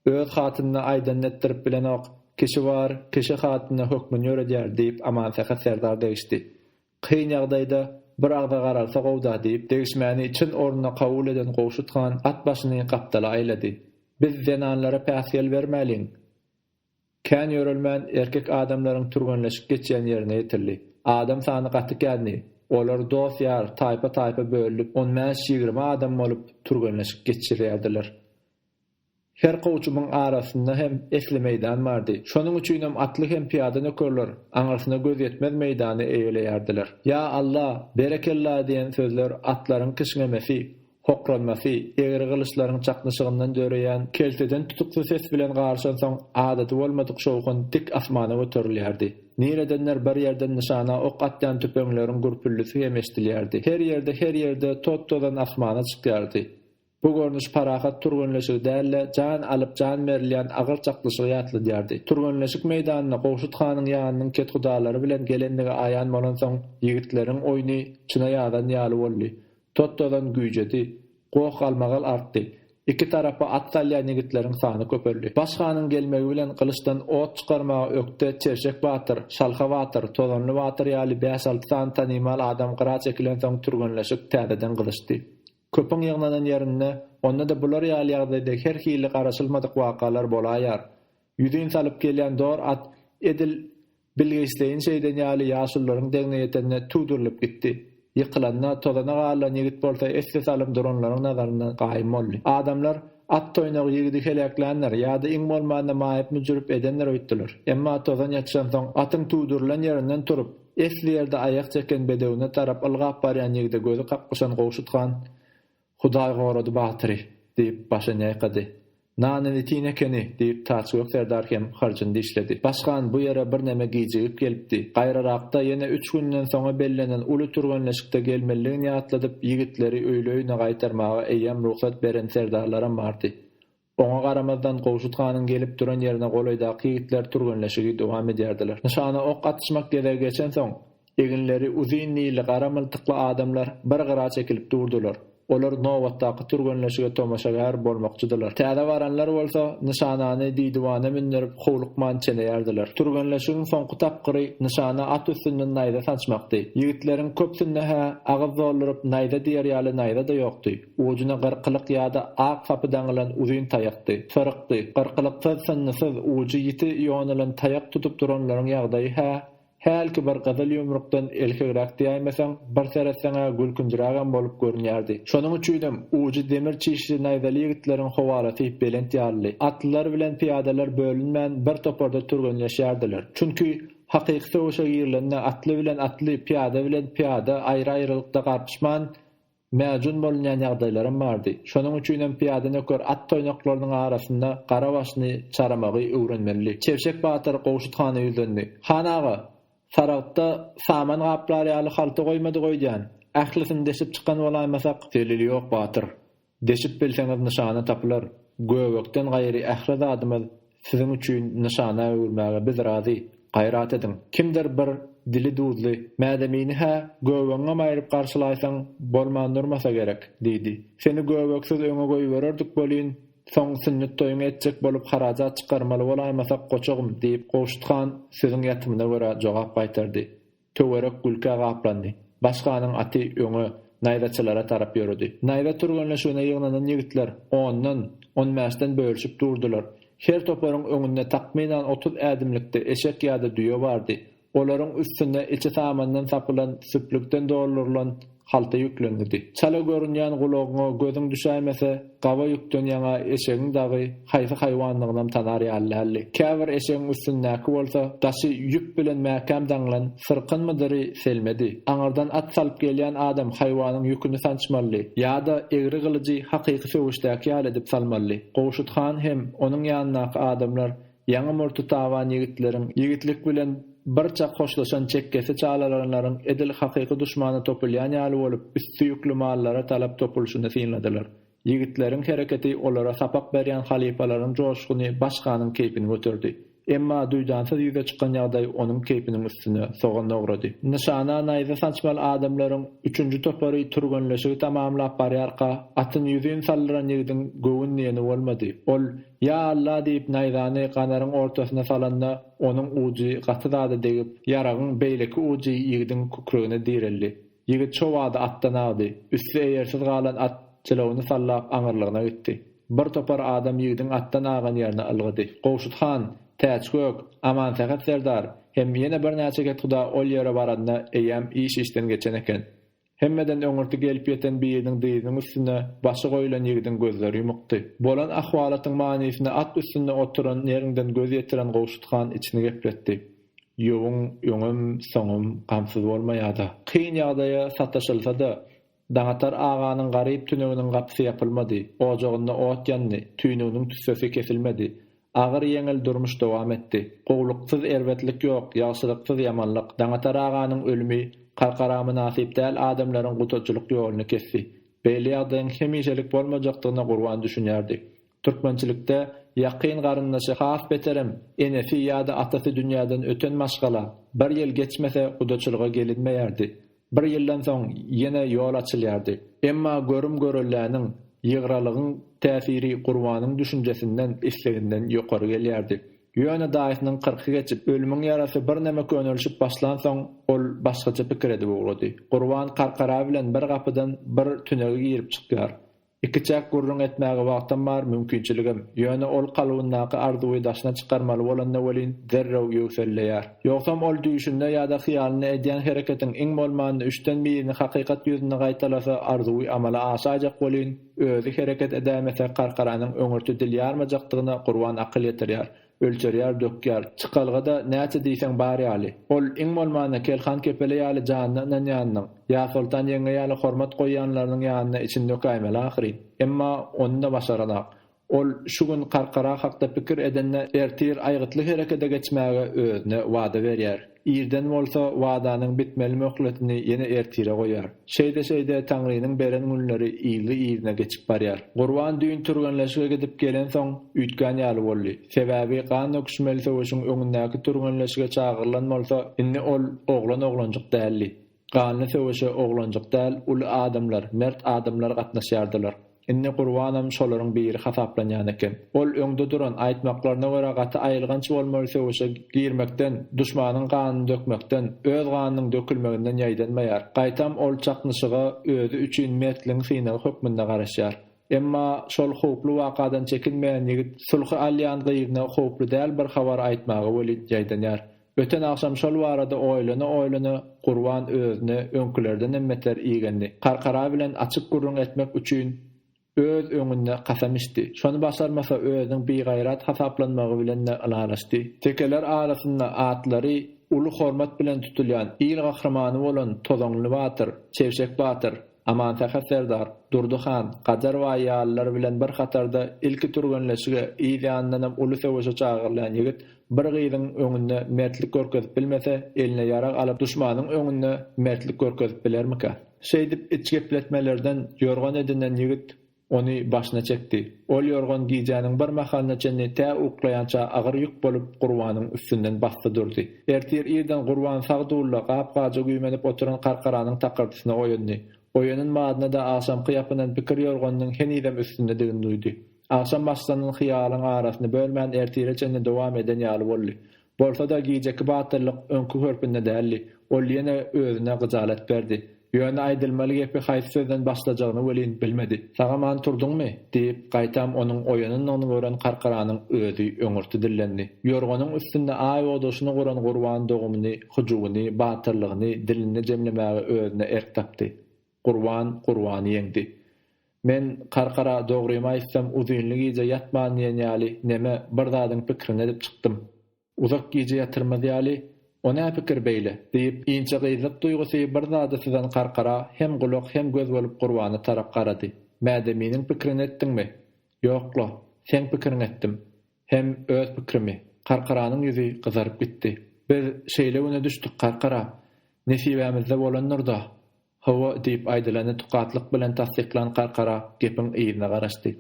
öz hatynyna aýdanyny etdirip bilenok, kişi bar, kişi hatynyna hökmüni ýöredýär, diýip, Amansähet serdar degişdi. Kyn ýagdaýda bir agza garalsa gow-da diýip, degişmäni çyn ornuna kabul eden Gowşut han at başyny gapdala aýlady. Biz zenanlara päsgel bermäliň! Kän ýörelmän, erkek adamlaryň türgenleşip geçýän ýerine ýetildi. Adam sany gaty kändi. Olar dost-ýar, taýpa-taýpa bölünip, on bäş-ýigrimi adam bolup, türgenleşip geçirýärdiler. Her kowçumyň arasynda hem esli meýdan bardy. Şonuň üçinem atly hem pyýada nökerler aňyrsyna göz ýetmez meýdany eýeleýärdiler. Ýa Alla, berekella diýen sözler atlaryň kişňemesi, hokranmasy, egri gylyçlaryň çaknyşygyndan döreýän kelteden tutukly ses bilen garyşansoň adaty bolmadyk şowhun dik asmana göterilýärdi. Niredendir bir ýerden nyşana ok atýan tüpeňleriň gürpüldisi hem eşdilýärdi. Her ýerde, her ýerde tot-tozan asmana çykýardy. Bu görnüş parahat türgenleşigi däl-de, jan alyp, jan berilýän agyr çaklyşygy ýatladýardy. Türgenleşik meýdanyna Gowşut hanyň ýanynyň kethudalary bilen gelendigi aýan bolansoň, ýigitleriň oýny çyna ýazan ýaly boldy. Tot-tozan güýjedi. Goh-galmagal artdy. Iki tarapa at salýan ýigitleriň sany köpeldi. Baş hanyň gelmegi bilen gylyçdan ot çykarmaga ökde Çerçek batyr, Şalha batyr, Tozanly batyr ýaly bäş-alty sany tanymal adam gyra çekilensoň türgenleşik täzeden gyzyşdy. Köpüň ýygnanan ýerinde, onda-da bular ýaly ýagdaýda her hili garaşylmadyk wakalar bolaýýar. Ýüzin salyp gelýän dor at edil bilgeşleýin şeýden ýaly ýaşulularyň degine ýetende tudurylyp gitdi. Ýykylanda, tozana garylan ýigit bolsa esse salym duranlaryň nazaryndan gaýym boldy. Adamlar, At toýnagy ýigidi heläkländir, ýa-da iň bolmanda maýyp-müjürip edendir öýtdüler. Emma tozan ýatyşansoň, atyň tudurylan ýerinden turup, Esli ýerde aýak çeken bedewine tarap ylgap barýan ýigide gözi kaklyşan Gowşut han, Hudaý gorady batyry! diýip, başyny ýaýkady. Nanyny itin ekeni! diýip, Taçgök serdar hem harjyny dişledi. Başkan bu ýere birneme gijigip gelipdi. Gaýrarakda, ýene üç günden soňa bellenen uly türgenleşikde gelmelidigini ýatladyp, ýigitleri öýli-öýüne gaýtarmaga eýýäm rugsat beren serdarlaram bardy. Oňa garamazdan, Gowşut hanyň gelip duran ýerine golaýdaky ýigitler türgenleşigi dowam edýärdiler. Nyşana ok atyşmak gezegi geçensoň, eginleri uzyn nili gara myltykly adamlar bir gyra çekilip durdular. Olar nobatdaky türgenleşige tomaşagär bolmakçydylar. Täze baranlar bolsa, nyşanany diýdiwana mündürip, howlukman çeneýärdiler. Türgenleşigiň soňky tapgyry nyşana at üstünden naýza sançmakdy. Ýigitleriň köpsünde-hä agyz dolduryp naýza diýer ýaly naýza-da ýokdy. Ujuna gyrkylyk ýa-da ak sapy daňylan uzyn taýakdy. Syrykdy. Gyrkylyksyz, synnysyz, ujy ýiti ýonulan taýak tutup duranlaryň ýagdaýy-hä, hälki bir gyzyl ýumrukdan elhegräk diýäýmeseň, bir seretseň-ä gülkünjirägem bolup görünýärdi. Şonuň üçinem, ujy demir çişli naýzaly ýigitleriň howalasy belent ýalydy. Atlylar bilen pyýadalar bölünmän, bir toparda türgenleşýärdiler. Çünki, hakyky söweşe girilende atly bilen atly, pyýada bilen pyýada aýry-aýrylykda garpyşman, Mäjun bolunýan ýagdaýlaram bardy. Şonuň üçinem pyýada nöker at toýnaklarynyň arasynda gara başyny çaramagy öwrenmelidi. Çebşek batyr Gowşut hana ýüzlendi. Han aga, saragtda saman gaplar ýaly halta goýmadyk öýdýän. Ählisini deşip çykan bolaýmasak? Delil ýok, batyr. Deşip bilseňiz nyşana tapylar. Göbekden gaýry ähli zadymyz Siziň üçin nyşana öwürmäge biz razy. Gaýrat ediň, kimdir bir dili duzly mädemini-hä göbegiňem aýryp garşylaýsaň bolman durmasa gerek, diýdi. Seni göbeksiz öňe goýbererdik welin, soň sünnet toýuňy etjek bolup harajat çykarmaly bolaýmasak goçagym, diýip, Gowşut han sözüň ýatymyna görä jogap gaýtardy. Töwerek gülkä gaplandy. Başganyň aty öňe, naýzaçylara tarap ýöredi. Naýza türgenleşigine ýygnanan ýigitler ondan, on bäşden bölüşip durdular. Her toparyň öňünde takmynan otuz ädimlikde eşek ýa-da düýe bardy. Olaryň üstünde içi samandan sapylan, süplükden doldurylan, Halta ýüklendirdi. Çala görünýän gulagyňa gözüň düşäýmese, gawa ýükden ýaňa eşegiň dagy haýsy haýwandygynam tanar ýaly däldi. Käbir eşegiň üstündäki bolsa, daşy ýüp bilen mäkäm daňylan syrkynmydyry selmedi. Aňyrdan at salyp gelýän adam haýwanyň ýüküni sançmalydy. Ýa-da egri gylyjy hakyky söweşdäki ýaly edip salmalydy. Gowşut han hem onuň ýanyndaky adamlar Ýaňy murty taban ýigitleriň, ýigitlik bilen bir çak hoşlaşan çekgesi çalarynlaryň edil hakyky duşmana topulýan ýaly bolup, üsti ýükli mallara talap topulyşyny synladylar. Ýigitleriň hereketi olara sapak berýän halypalaryň joşguny başganyň keýpini göterdi. Emma duýdansyz ýüze çykan ýagdaý onuň keýpiniň üstüne sogan dogrady. Nyşana naýza sançmaly adamlaryň üçünji topary türgenleşigi tamamlap barýarka, atyny ýüzin saldyran ýigidiň göwün diýeni bolmady. Ol. Ýa Alla diýip naýzany ganaryň ortasyna salanda, onuň ujy gaty zada degip, ýaragyň beýleki ujy ýigidiň kükregine direldi. Ýigit şo bada atdan agdy. Üsti eýersiz galan at jylawyny sallap aňyrlygyna gitdi. Bir topar adam ýigidiň atdan agan ýerine ylgady. Gowşut han, Täçgök, Amansähet serdar hem ýene birnäçe kethuda ol ýere baranda eýýäm iş işden geçen eken. Hemmeden öňürti gelip ýeten biriniň dyzynyň üstüne başy goýlan ýigidiň gözleri ýumukdy. Bolan ahwalatyň manysyna at üstünde oturan neriňden göz ýetiren Gowşut han içini gepletdi. Ýowyň öňem, soňam gamsyz bolmaýa-da. Kyn ýagdaýa sataşylsa-da, Daňatar aganyň garyp tüneginiň gapysy ýapylmady, ojagynda ot ýandy, tüýnüginiň tüssesi kesilmedi. Agyr-ýeňil durmuş dowam etdi. Gowluksyz erbetlik ýok, ýagşylyksyz ýamanlyk. Daňatar aganyň ölümi, Karkaramynasyp däl adamlaryň gutajylyk ýoluny kesdi. Beýle ýagdaýyň hemişelik bolmajakdygyna Gurban düşünýärdi. Türkmençilikde Ýakyn garyndaşy has beterem, enesi ýa-da atasy dünýäden öten maşgala, bir ýyl geçmese gudaçylyga gelinmeýärdi. Bir ýyldan soň ýene ýol açylýardy. Emma görüm-görelläniň, ýygralygyň täsiri Gurbanyň düşünjesinden, isleginden ýokary gelýärdi. Ýöne daýysynyň kyrky geçip, ölümiň ýarasy birneme könelişip başlansoň, ol başgaça pikir edip ugrady. Gurban Karkara bilen bir gapydan bir tünege girip-çykýar. Ikiçäk gürrüň etmäge wagtam bar, mümkinçiligim. Ýöne ol kalbyndaky arzuwy daşyna çykarmaly bolanda welin, derrew ýöwselleýär. Ýogsam ol düýşünde ýa-da hyýalynda edýän hereketiň iň bolmanda üçden birini hakykat ýüzünde gaýtalasa, arzuwy amala aşaýjak welin, özi hereket edäýmese, Karkaranyň öňürti dil ýarmajakdygyna Gurban akyl ýetirýär. Ölçerýär, dökýär. Çykalga-da näçe diýseň bar ýaly. Ol, iň bolmanda, Kelhan kepele ýaly janyna ynanýanynyň, Ýasoltan ýeňňe ýaly hormat goýýanlarynyň ýanynda içini dökäýmeli ahyryn. Emma ony-da başaranok. Ol şu gün Karkara hakda pikir edende ertir aýgytly herekede geçmäge özüne wada berýär. Irden bolsa wadanyň bitmeli möhletini ýene ertire goýar. Şeýde-şeýde Taňrynyň beren günleri yzly-yzyna geçip barýar. Gurban düýn türgenleşige gidip gelensoň, üýtgän ýaly boldy. Sebäbi gan döküşmeli söweşiň öňündäki türgenleşige çagyrylan bolsa, indi ol oglan-oglanjyk däldi. Ganly söweşe oglanjyk däl, uly adamlar, mert adamlar gatnaşýardylar. Indi Gurbanam şolaryň biri hasaplanýan eken. Ol öňde duran, aýtmaklaryna görä gaty aýylganç bolmaly söweşe girmekden, duşmanyň ganyny dökmekden, öz ganynyň dökülmeginden ýaýdanmaýar. Gaýtam ol çaknyşyga özi üçin mertligiň synagy hökmünde garaşýar. Emma şol howply wakadan çekinmeýän ýigit sulhy alýan gyzyna howply däl bir habar aýtmaga welin ýaýdanýar. Öten agşam şol barada oýlana-oýlana Gurban özüne öňkülerdenem beter igendi. Karkara bilen açyk gürrüň etmek üçin öz öňünde kasam içdi. Şony başarmasa özüniň bigaýrat hasaplanmagy bilen-de ylalaşdy. Tekeler arasynda atlary uly hormat bilen tutulýan il gahrymany bolan Tozanly batyr, Çebşek batyr, Amansähet serdar, Durdy han, Gajar baý ýalylar bilen bir hatarda ilki türgenleşige, yz ýanyndanam uly söweşe çagyrylýan ýigit bir gyzyň öňünde mertlik görkezip bilmese, eline ýarag alyp duşmanyň öňünde mertlik görkezip bilermikä? Şeýdip iç gepletmelerden ýorgan edinen ýigit Ony başyna çekdi. Ol ýorgan gijäniň bir mahalyna çenli tä uklaýança agyr ýük bolup Gurbanyň üstünden basdy durdy. Ertir irden Gurban sag dulda gap-gaja güýmenip oturan Karkaranyň takyrdysyna oýandy. Oýanan badyna-da agşamky ýapynan pikir ýorganynyň henizem üstündedigini duýdy. Agşam başlanan hyýalyň arasyny bölmän ertire çenli dowam eden ýaly boldy. Bolsa-da gijeki batyrlyk öňki görpünde däldi. Ol ýene özüne gyjalat berdi. Ýöne aýdylmaly gepi haýsy sözden başlajagyny welin bilmedi. Sag-aman turduňmy? diýip, gaýtam onuň oýanandygyny gören Karkaranyň özi öňürti dillendi. Ýorganyň üstünde aý odaşyny guran Gurban dogumyny, hyjuwyny, batyrlygyny, dilini jemlemäge özüne erk tapdy. Gurban Gurbany ýeňdi. Men Karkara dogrymy aýtsam uzynly gije ýatman diýen ýaly neme bir zadyň pikrini edip çykdym. Uzak gije ýatyrmaz ýaly, O nä pikir beýle? diýip, inçe gyzlyk duýgusy bir zada syzan Karkara hem gulak hem göz bolup Gurbana tarap garady. Mädeminiň pikrini etdiňmi? Ýok-la, seň pikiriňi etdim. Hem öz pikrimi. Karkaranyň ýüzi gyzaryp gitdi. Biz şeýle güne düşdük, Karkara. Nesibämizde bolandyr-da. Hawa, diýip, aýdylany tukatlyk bilen tassyklan Karkara gepiň yzyna garaşdy.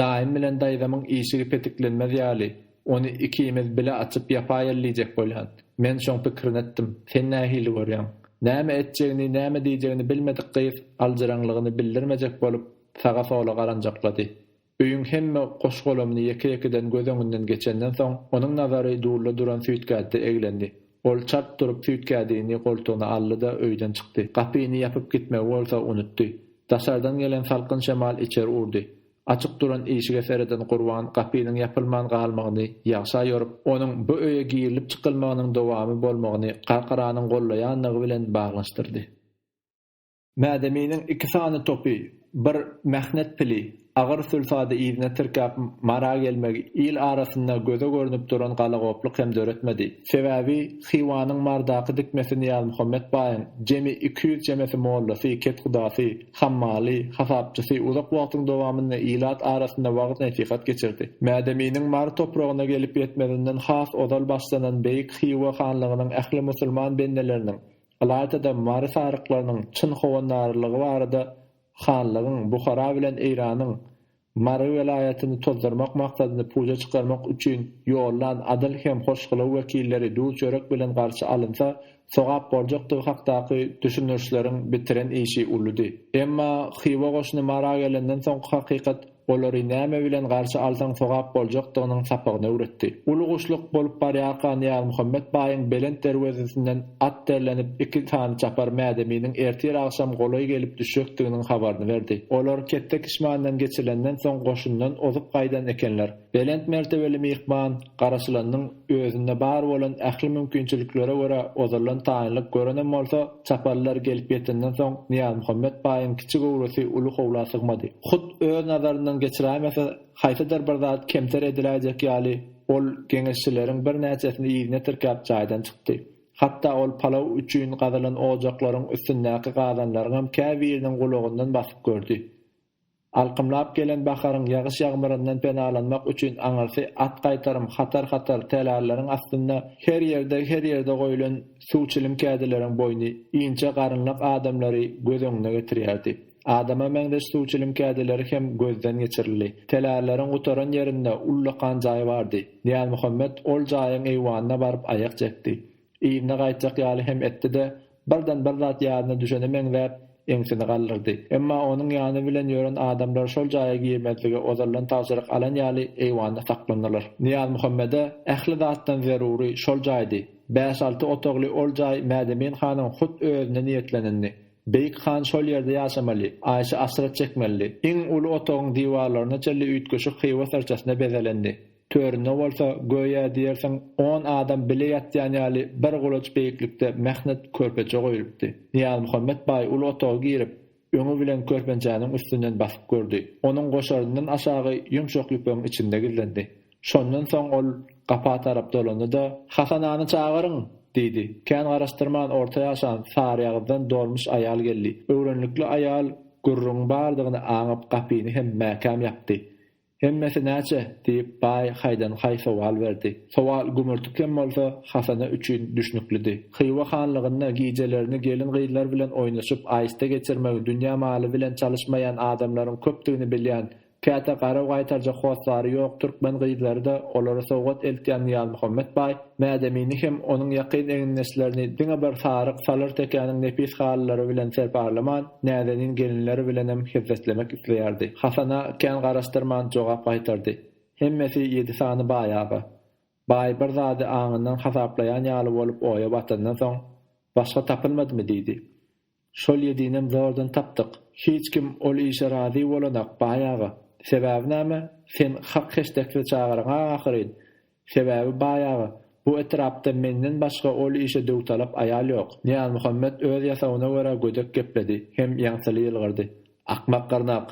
Daýym bilen daýzamyň işigi petiklenmez ýaly, ony ikimiz bile açyp ýapaýaly diýjek bolýan. Men şoň pikirini etdim. Sen nähili görýäň? Näme etjegini, näme diýjegini bilmedik gyz aljyraňlygyny bildirmejek bolup, saga-sola garanjaklady. Öýüň hemme goş-golamyny ýeke-ýekeden göz öňünden geçenden soň, onuň nazary dulda duran süýtgädde eglendi. Ol çalt durup süýtgädini goltugyna aldy-da, öýden çykdy. Gapyny ýapyp gitmegi bolsa unutdy. Daşardan gelen salkyn şemal içeri urdy. Açyk duran işige sereden Gurban gapynyň ýapylman galmagyny ýagşa ýorup, onuň bu öýe girilip-çykylmagynyň dowamy bolmagyny garkaranyň gollaýanlygy bilen baglanyşdyrdy. Mädeminiň iki sany topy, bir mähnet pili, agyr sülsady yzyna tirkäp Mara gelmegi il arasynda göze görnüp duran galagoplyk hem döretmedi. Sebäbi Hywanyň Mardaky dikmesi Nyýazmuhammet baýyň jemi iki ýüz çemesi mollasy, kethudasy, hammaly, hasapçysy uzak wagtyň dowamynda ilat arasynda wagyz-nesihat geçirdi. Mädeminiň Mary topragyna gelip ýetmezinden has ozal başlanan beýik Hywa hanlygynyň ähli musulman bendeleriniň Ylaýta-da mary saryklarynyň çyn howandarlygy barada hanlygyň Buhara bilen Eýranyň Mary welaýatyny tozdurmak maksadyny puja çykarmak üçin ýollan adyl hem hoşgylaw wekilleri duz-çörek bilen garşy alynsa sogap boljakdygy hakdaky düşündirişleriň bitiren işi uludy. Emma Hywa goşuny Mara gelenden soňky hakykat Olary näme bilen garşy alsaň sogap boljakdygynyň sapagyny öwretdi. Uly guşluk bolup barýarka Nyýazmuhammet baýyň belent derwezesinden at derlenip iki sany çapar Mädeminiň ertir agşam golaý gelip düşjekdiginiň habaryny berdi. Olar Ketde-Kişmandan geçilenden soň goşundan ozup gaýdan ekenler. Belent mertebeli myhman, garaşylanyň. Özünde bar bolan ähli mümkinçiliklere görä ozaldan taýynlyk görenem bolsa, çaparlylar gelip ýetenden soň Nyýazmuhammet baýyň kiçi göwresi uly howla sygmady. Hut öz nazaryndan geçiräýmese, haýsydyr bir zat kemter ediläýjek ýaly, ol geňeşçileriň birnäçesini yzyna tirkäp jaýdan çykdy. Hatda ol palaw üçin gazylan ojaklaryň üstündäki gazanlaryňam käbiriniň gulagyndan basyp gördi. Alkymlap gelen baharyň ýagyş-ýagmyryndan penalanmak üçin aňyrsy at gaýtarym hatar-hatar tälärleriň astynda her ýerde her ýerde goýlan suw çilim kädileriň boýny inçe garynlak adamlary göz öňüne getirýärdi. Adama meňzeş suw çilim kädileri hem gözden geçirildi. Tälärleriň gutaran ýerinde ullakan jaý bardy. Nyýazmuhammet ol jaýyň eýwanyna baryp aýak çekdi. Yzyna gaýtjak ýaly hem etdi-de, Birden bir zat ýadyna düşene meňzäp, eňsini galdyrdy. Emma onuň ýany bilen ýören adamlar şol jaýa girmezlige ozaldan tabşyryk alan ýaly eýwanda saklandylar. Nyýazmuhammede ähli zatdan zerury şol jaýdy. Bäş-alty otagly ol jaý Mädemin hanyň hut özüne niýetlenindi. Beýik han şol ýerde ýaşamaly, aýşy-aşret çekmelidi. Iň uly otagyň diwarlaryna çenli üýtgeşik hywa syrçasyna bezelendi. Töründe bolsa, göýä diýersiň, on adam bile ýatýan ýaly bir gulaç beýiklikde mähnet körpeçe goýlupdy. Nyýazmuhammet baý uly otaga girip, öňi bilen körpençäniň üstünden basyp gördi. Onuň goşaryndan aşagy ýumşak ýüpegiň içinde gizlendi. Şondan soň ol gapa tarap dolandy-da. Hasan agany çagyryň! diýdi. Kän garaşdyrman orta ýaşan Saryýagyzdan dolmuş aýal geldi. Öwrenlikli aýal gürrüňiň bardygyny aňyp gapyny hem mäkäm ýapdy. Hemmesi näçe? diýip, baý haýdan-haý sowal berdi. Sowal gümürtik hem bolsa, Hasana üçin düşnüklidi. Hywa hanlygynda gijelerini gelin-gyzlar bilen oýnaşyp, aýysta geçirmegi dünýä maly bilen çalyşmaýan adamlaryň köpdügini bilýän, käte garaw gaýtarjak hossary ýok türkmen gyzlary-da olara sowgat eltýän Nyýazmuhammet baý, Mädemini hem onuň ýakyn egindeşlerini diňe bir saryk salyr tekäniň nepis halylary bilen serparlaman, näzenin gelinleri bilenem hezzetlemek isleýärdi. Hasana kän garaşdyrman jogap gaýtardy. Hemmesi ýedi sany baý aga. Baý bir zady aňyndan hasaplaýan ýaly bolup oýa batandan soň, Başga tapylmadymy? diýdi. Şol ýedinem zordan tapdyk. Hiç kim ol işe razy bolanak, baý aga. Sebäbi näme? Sen hak heşdekli çagaryň-a ahyryn. Sebäbi, baý aga, bu etrapda menden başga ol işe döwtalap aýal ýok. Nyýazmuhammet öz ýasawyna görä gödek gepledi hem ýaňsyly ýylgyrdy. Akmak gyrnak!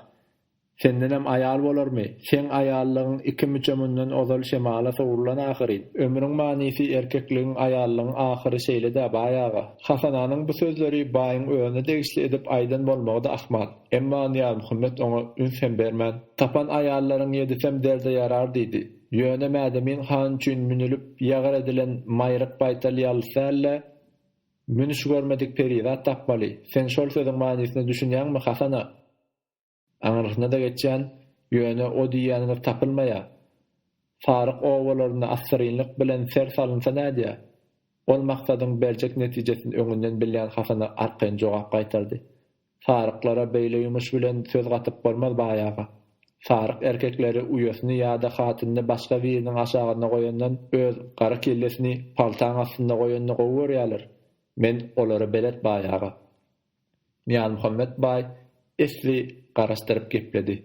Sendenem aýal bolarmy? Seň aýallygyň iki müçe mundan ozal şemala sowrulan ahyryn. Ömrüň manysy erkekligiň, aýallygyň ahyry şeýle-dä, baý aga. Hasananyň bu sözleri baýyň özüne degişli edip aýdan bolmagy-da ahmal. Emma Nyýazmuhammet oňa üns hem bermän, Tapan aýallaryň ýedisem derde ýarar diýdi. Ýöne Mädemin han üçin münülip ýagyr edilen maýryk baýtal ýalys däl-de, münüş görmedik perizat tapmaly. Sen şol sözüň manysyna düşünýäňmi, Hasana? Aňrysyna-da geçýän, ýöne o diýýäni bir tapylmaýar. Saryk obalarynda assyrynlyk bilen ser salynsa nädýär? Ol Maksadyň berjek netijesini öňünden bilýän Hasana arkaýyn jogap gaýtardy. Saryklara beýle ýumuş bilen söz gatyp bolmaz, baý aga. Saryk erkekleri uýasyny ýa-da hatynyny başga biriniň aşagynda goýandan öz gara kellesini paltaň astynda goýanyny gowy görýärler. Men olara belet, baý aga. Nyýazmuhammet baý esli garaşdyryp gepledi.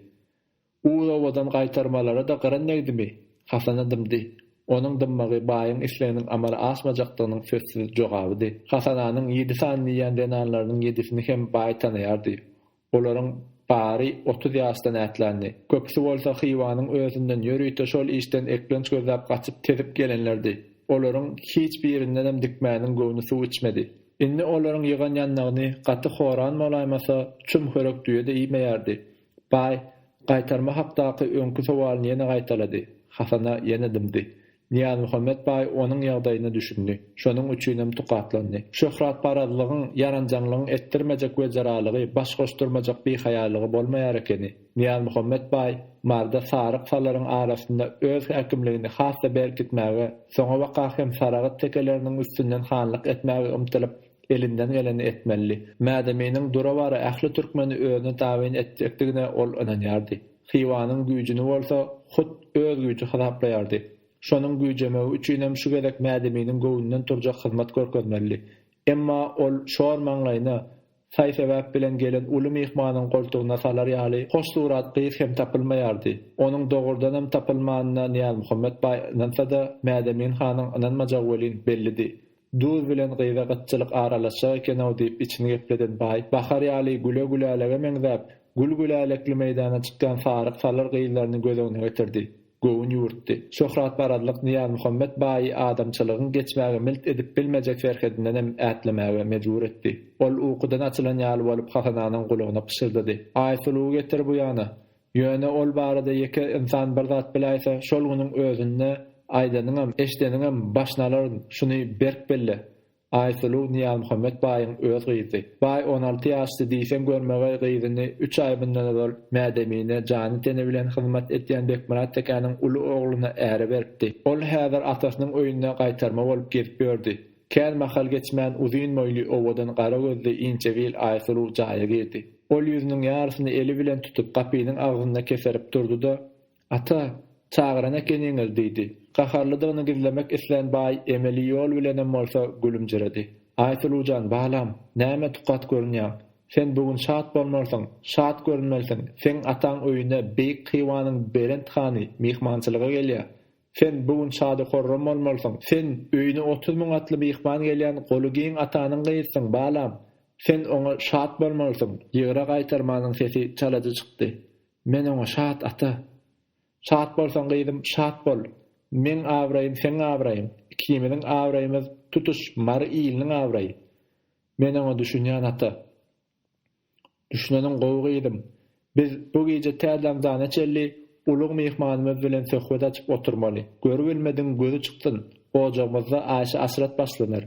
Uz obadan gaýtarmalara-da gyryn degdimi? Hasana dymdy. Onuň dymmagy baýyň isleginiň amala aşmajakdygynyň sözsüz jogabydy. Hasananyň ýedi sany diýýän zenanlarynyň ýedisini hem baý tanaýardy. Olaryň bary otuz ýaşdan ätländi. Köpüsi bolsa Hywanyň özünden ýörite şol işden eklenç gözläp gaçyp tezip gelenlerdi. Olaryň hiç birindenem Dikmäniň göwni suw içmedi. Indi olaryň ýygan ýandagyny gaty horan bolaýmasa, çum hörek düýe-de iýmeýärdi. Baý, gaýtarma hakdaky öňki sowalyny ýene gaýtalady. Hasana ýene dymdy. Nyýazmuhammet baý onuň ýagdaýyna düşündi. Şonuň üçinem tukatlandy. Şöhratparazlygyň, ýaranjaňlygyň etdirmejek weziralygy, baş goşdurmajak bihaýalygy bolmaýar ekeni. Nyýazmuhammet baý Maryda saryk salaryň arasynda öz häkimligini has-da berkitmäge, soňabaka hem Saragt tekeleriniň üstünden hanlyk etmäge ymtylyp, elinden geleni etmelidi. Mädeminiň dura-bara ähli türkmeni özüne tabyn etjekdigine ol ynanýardy. Hywanyň güýjüni bolsa hut öz güýji hasaplaýardy. Şonuň güýjemegi üçinem şu gezek Mädeminiň göwnünden turjak hyzmat görkezmelidi. Emma ol şor maňlaýyna, Saý-sebäp bilen gelen uly myhmanyň goltugyna salar ýaly hoş surat gyz hem tapylmaýardy. Onuň dogrudanam tapylmanyna Nyýazmuhammet baý ynansa-da, Mädemin hanyň ynanmajagy welin bellidi. Duz bilen gyza gytçylyk aralaşjak eken-ow diýip içini gepleden baý, bahar ýaly güle-gülälege meňzäp, gül-gülälekli meýdana çykýan saryk-salyr gyzlaryny göz öňüne getirdi. Göwün ýurtdy. Şöhratparazlyk Nyýazmuhammet baýy adamçylygyň geçmäge milt edip bilmejek serhedindenem ätlemäge mejbur etdi. Ol ukudan açylan ýaly bolup Hasananyň gulagyna pyşyrdady, Aýsuluwy getir bu ýana! Ýöne ol barada ýeke ynsan bir zat biläýse, şol günüň özünde aýdanyňam, eşideniňem başyny alaryn, şuny berk belle! Aýsuluw Nyýazmuhammet baýyň öz gyzy. Baý on alty ýaşdy diýseň görmegeý gyzyny üç aý mundan ozal Mädemine jany-teni bilen hyzmat edýän Bekmyrat tekäniň uly ogluna äre beripdi. Ol häzir atasynyň öýünde gaýtarma bolup gezip ýördi. Kän mahal geçmän uzyn boýly, owadan gara gözli inçegil Aýsuluw jaýa girdi. Ol ýüzüniň ýarysyny eli bilen tutup gapynyň agzynda keserip durdy-da, Ata, çagyran ekeniňiz, diýdi. Gaharlydygyny gizlemek islän baý emeli ýol bilenem bolsa gülümjiredi. Aýsuluw jan, balam, näme tukat görünýäň? Sen bu gün şat bolmalysyň, şat görünmelisiň, seň ataň öýüne beýik Hywanyň belent hany myhmançylyga gelýär. Sen bu gün şady-horram bolmalysyň, sen öýüne otuz müň atly myhman gelýän goly giň atanyň gyzysyň, balam. Sen oňa şat bolmalysyň. Ýygra gaýtarmanyň sesi çalajy çykdy. Men oňa Şat ata! Şat bolsaň gyzym, şat bol! Meň abraýym seň abraýyň, ikimiziň abraýymyz tutuş Mary iliniň abraýy! Men oňa Düşünýän ata! Düşüneniň gowy gyzym! Biz bu gije tä daňdana çenli ulyg myhmanymyz bilen söhbet açyp oturmaly. Görübilmedigiň gözi çyksyn! Ojagymyzda Aýşe-Aşyrat başlanar.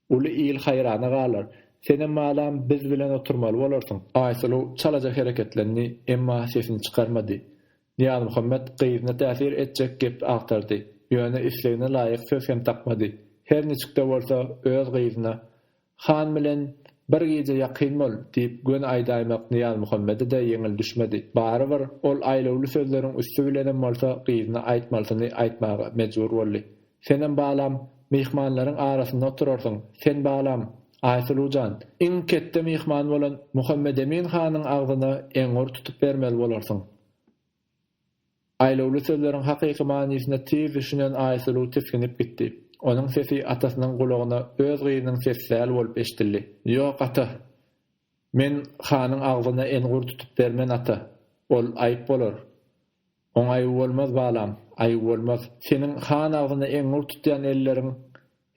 Uly il haýrana galar. Senem balam biz bilen oturmaly bolarsyň. Aýsuluw çalaja hereketlendi, emma sesini çykarmady. Nyýazmuhammet gyzyna täsir etjek gep agtardy, ýöne islegine laýyk söz hem tapmady. Her niçik-de bolsa, öz gyzyna Han bilen bir gije ýakyn bol! diýip göni aýdaýmak Nyýazmuhammede-de ýeňil düşmedi. Barybir, ol aýlawly sözleriň üsti bilenem bolsa gyzyna aýtmalysyny aýtmaga mejbur boldy. Senem balam, myhmanlaryň arasynda oturarsyň. Sen balam, Aýsuluw jan, iň ketde myhman bolan Muhammedemin hanyň agzyna eňňur tutup bermeli bolarsyň. Aýlawly sözleriň hakyky manysyna tiz düşünen Aýsuluw tisginip gitdi. Onuň sesi atasynyň gulagyna öz gyzynyň sesi däl bolup eşidildi. Ýok, ata. Men hanyň agzyna eňňur tutup bermen, ata. Ol aýyp bolar. Oňa aýw bolmaz, balam, aýw bolmaz. Seniň han agzyny eňňur tutýan elleriň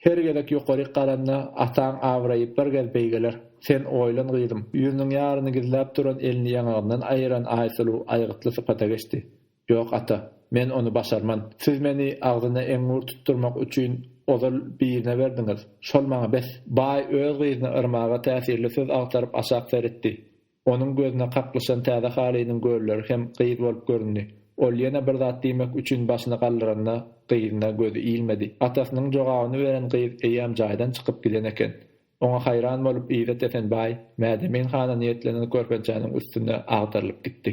her gezek ýokaryk garanda, ataň abraýy bir gez beýgeler. Sen oýlan, gyzym. Ýüzüniň ýaryny gizläp duran elini ýaňagyndan aýyran Aýsuluw aýgytly sypata geçdi. Ýok, ata. Men ony başarman. Siz meni agzyny eňňur tutdurmak üçin ozal birine berdiňiz. Şol maňa bes. Baý öz gyzyny yrmaga täsirli söz agtaryp aşak seretdi. Onuň gözüne kaklyşan täze halynyň gölleri hem gyz bolup göründi. Ol ýene bir zat diýmek üçin başyny galdyranda, gyzyna gözi ilmedi. Atasynyň jogabyny beren gyz eýýäm jaýdan çykyp giden eken. Oňa haýran bolup Yzat Esenbaý Mädemin hana niýetlenen körpençäniň üstünde agdarylyp gitdi.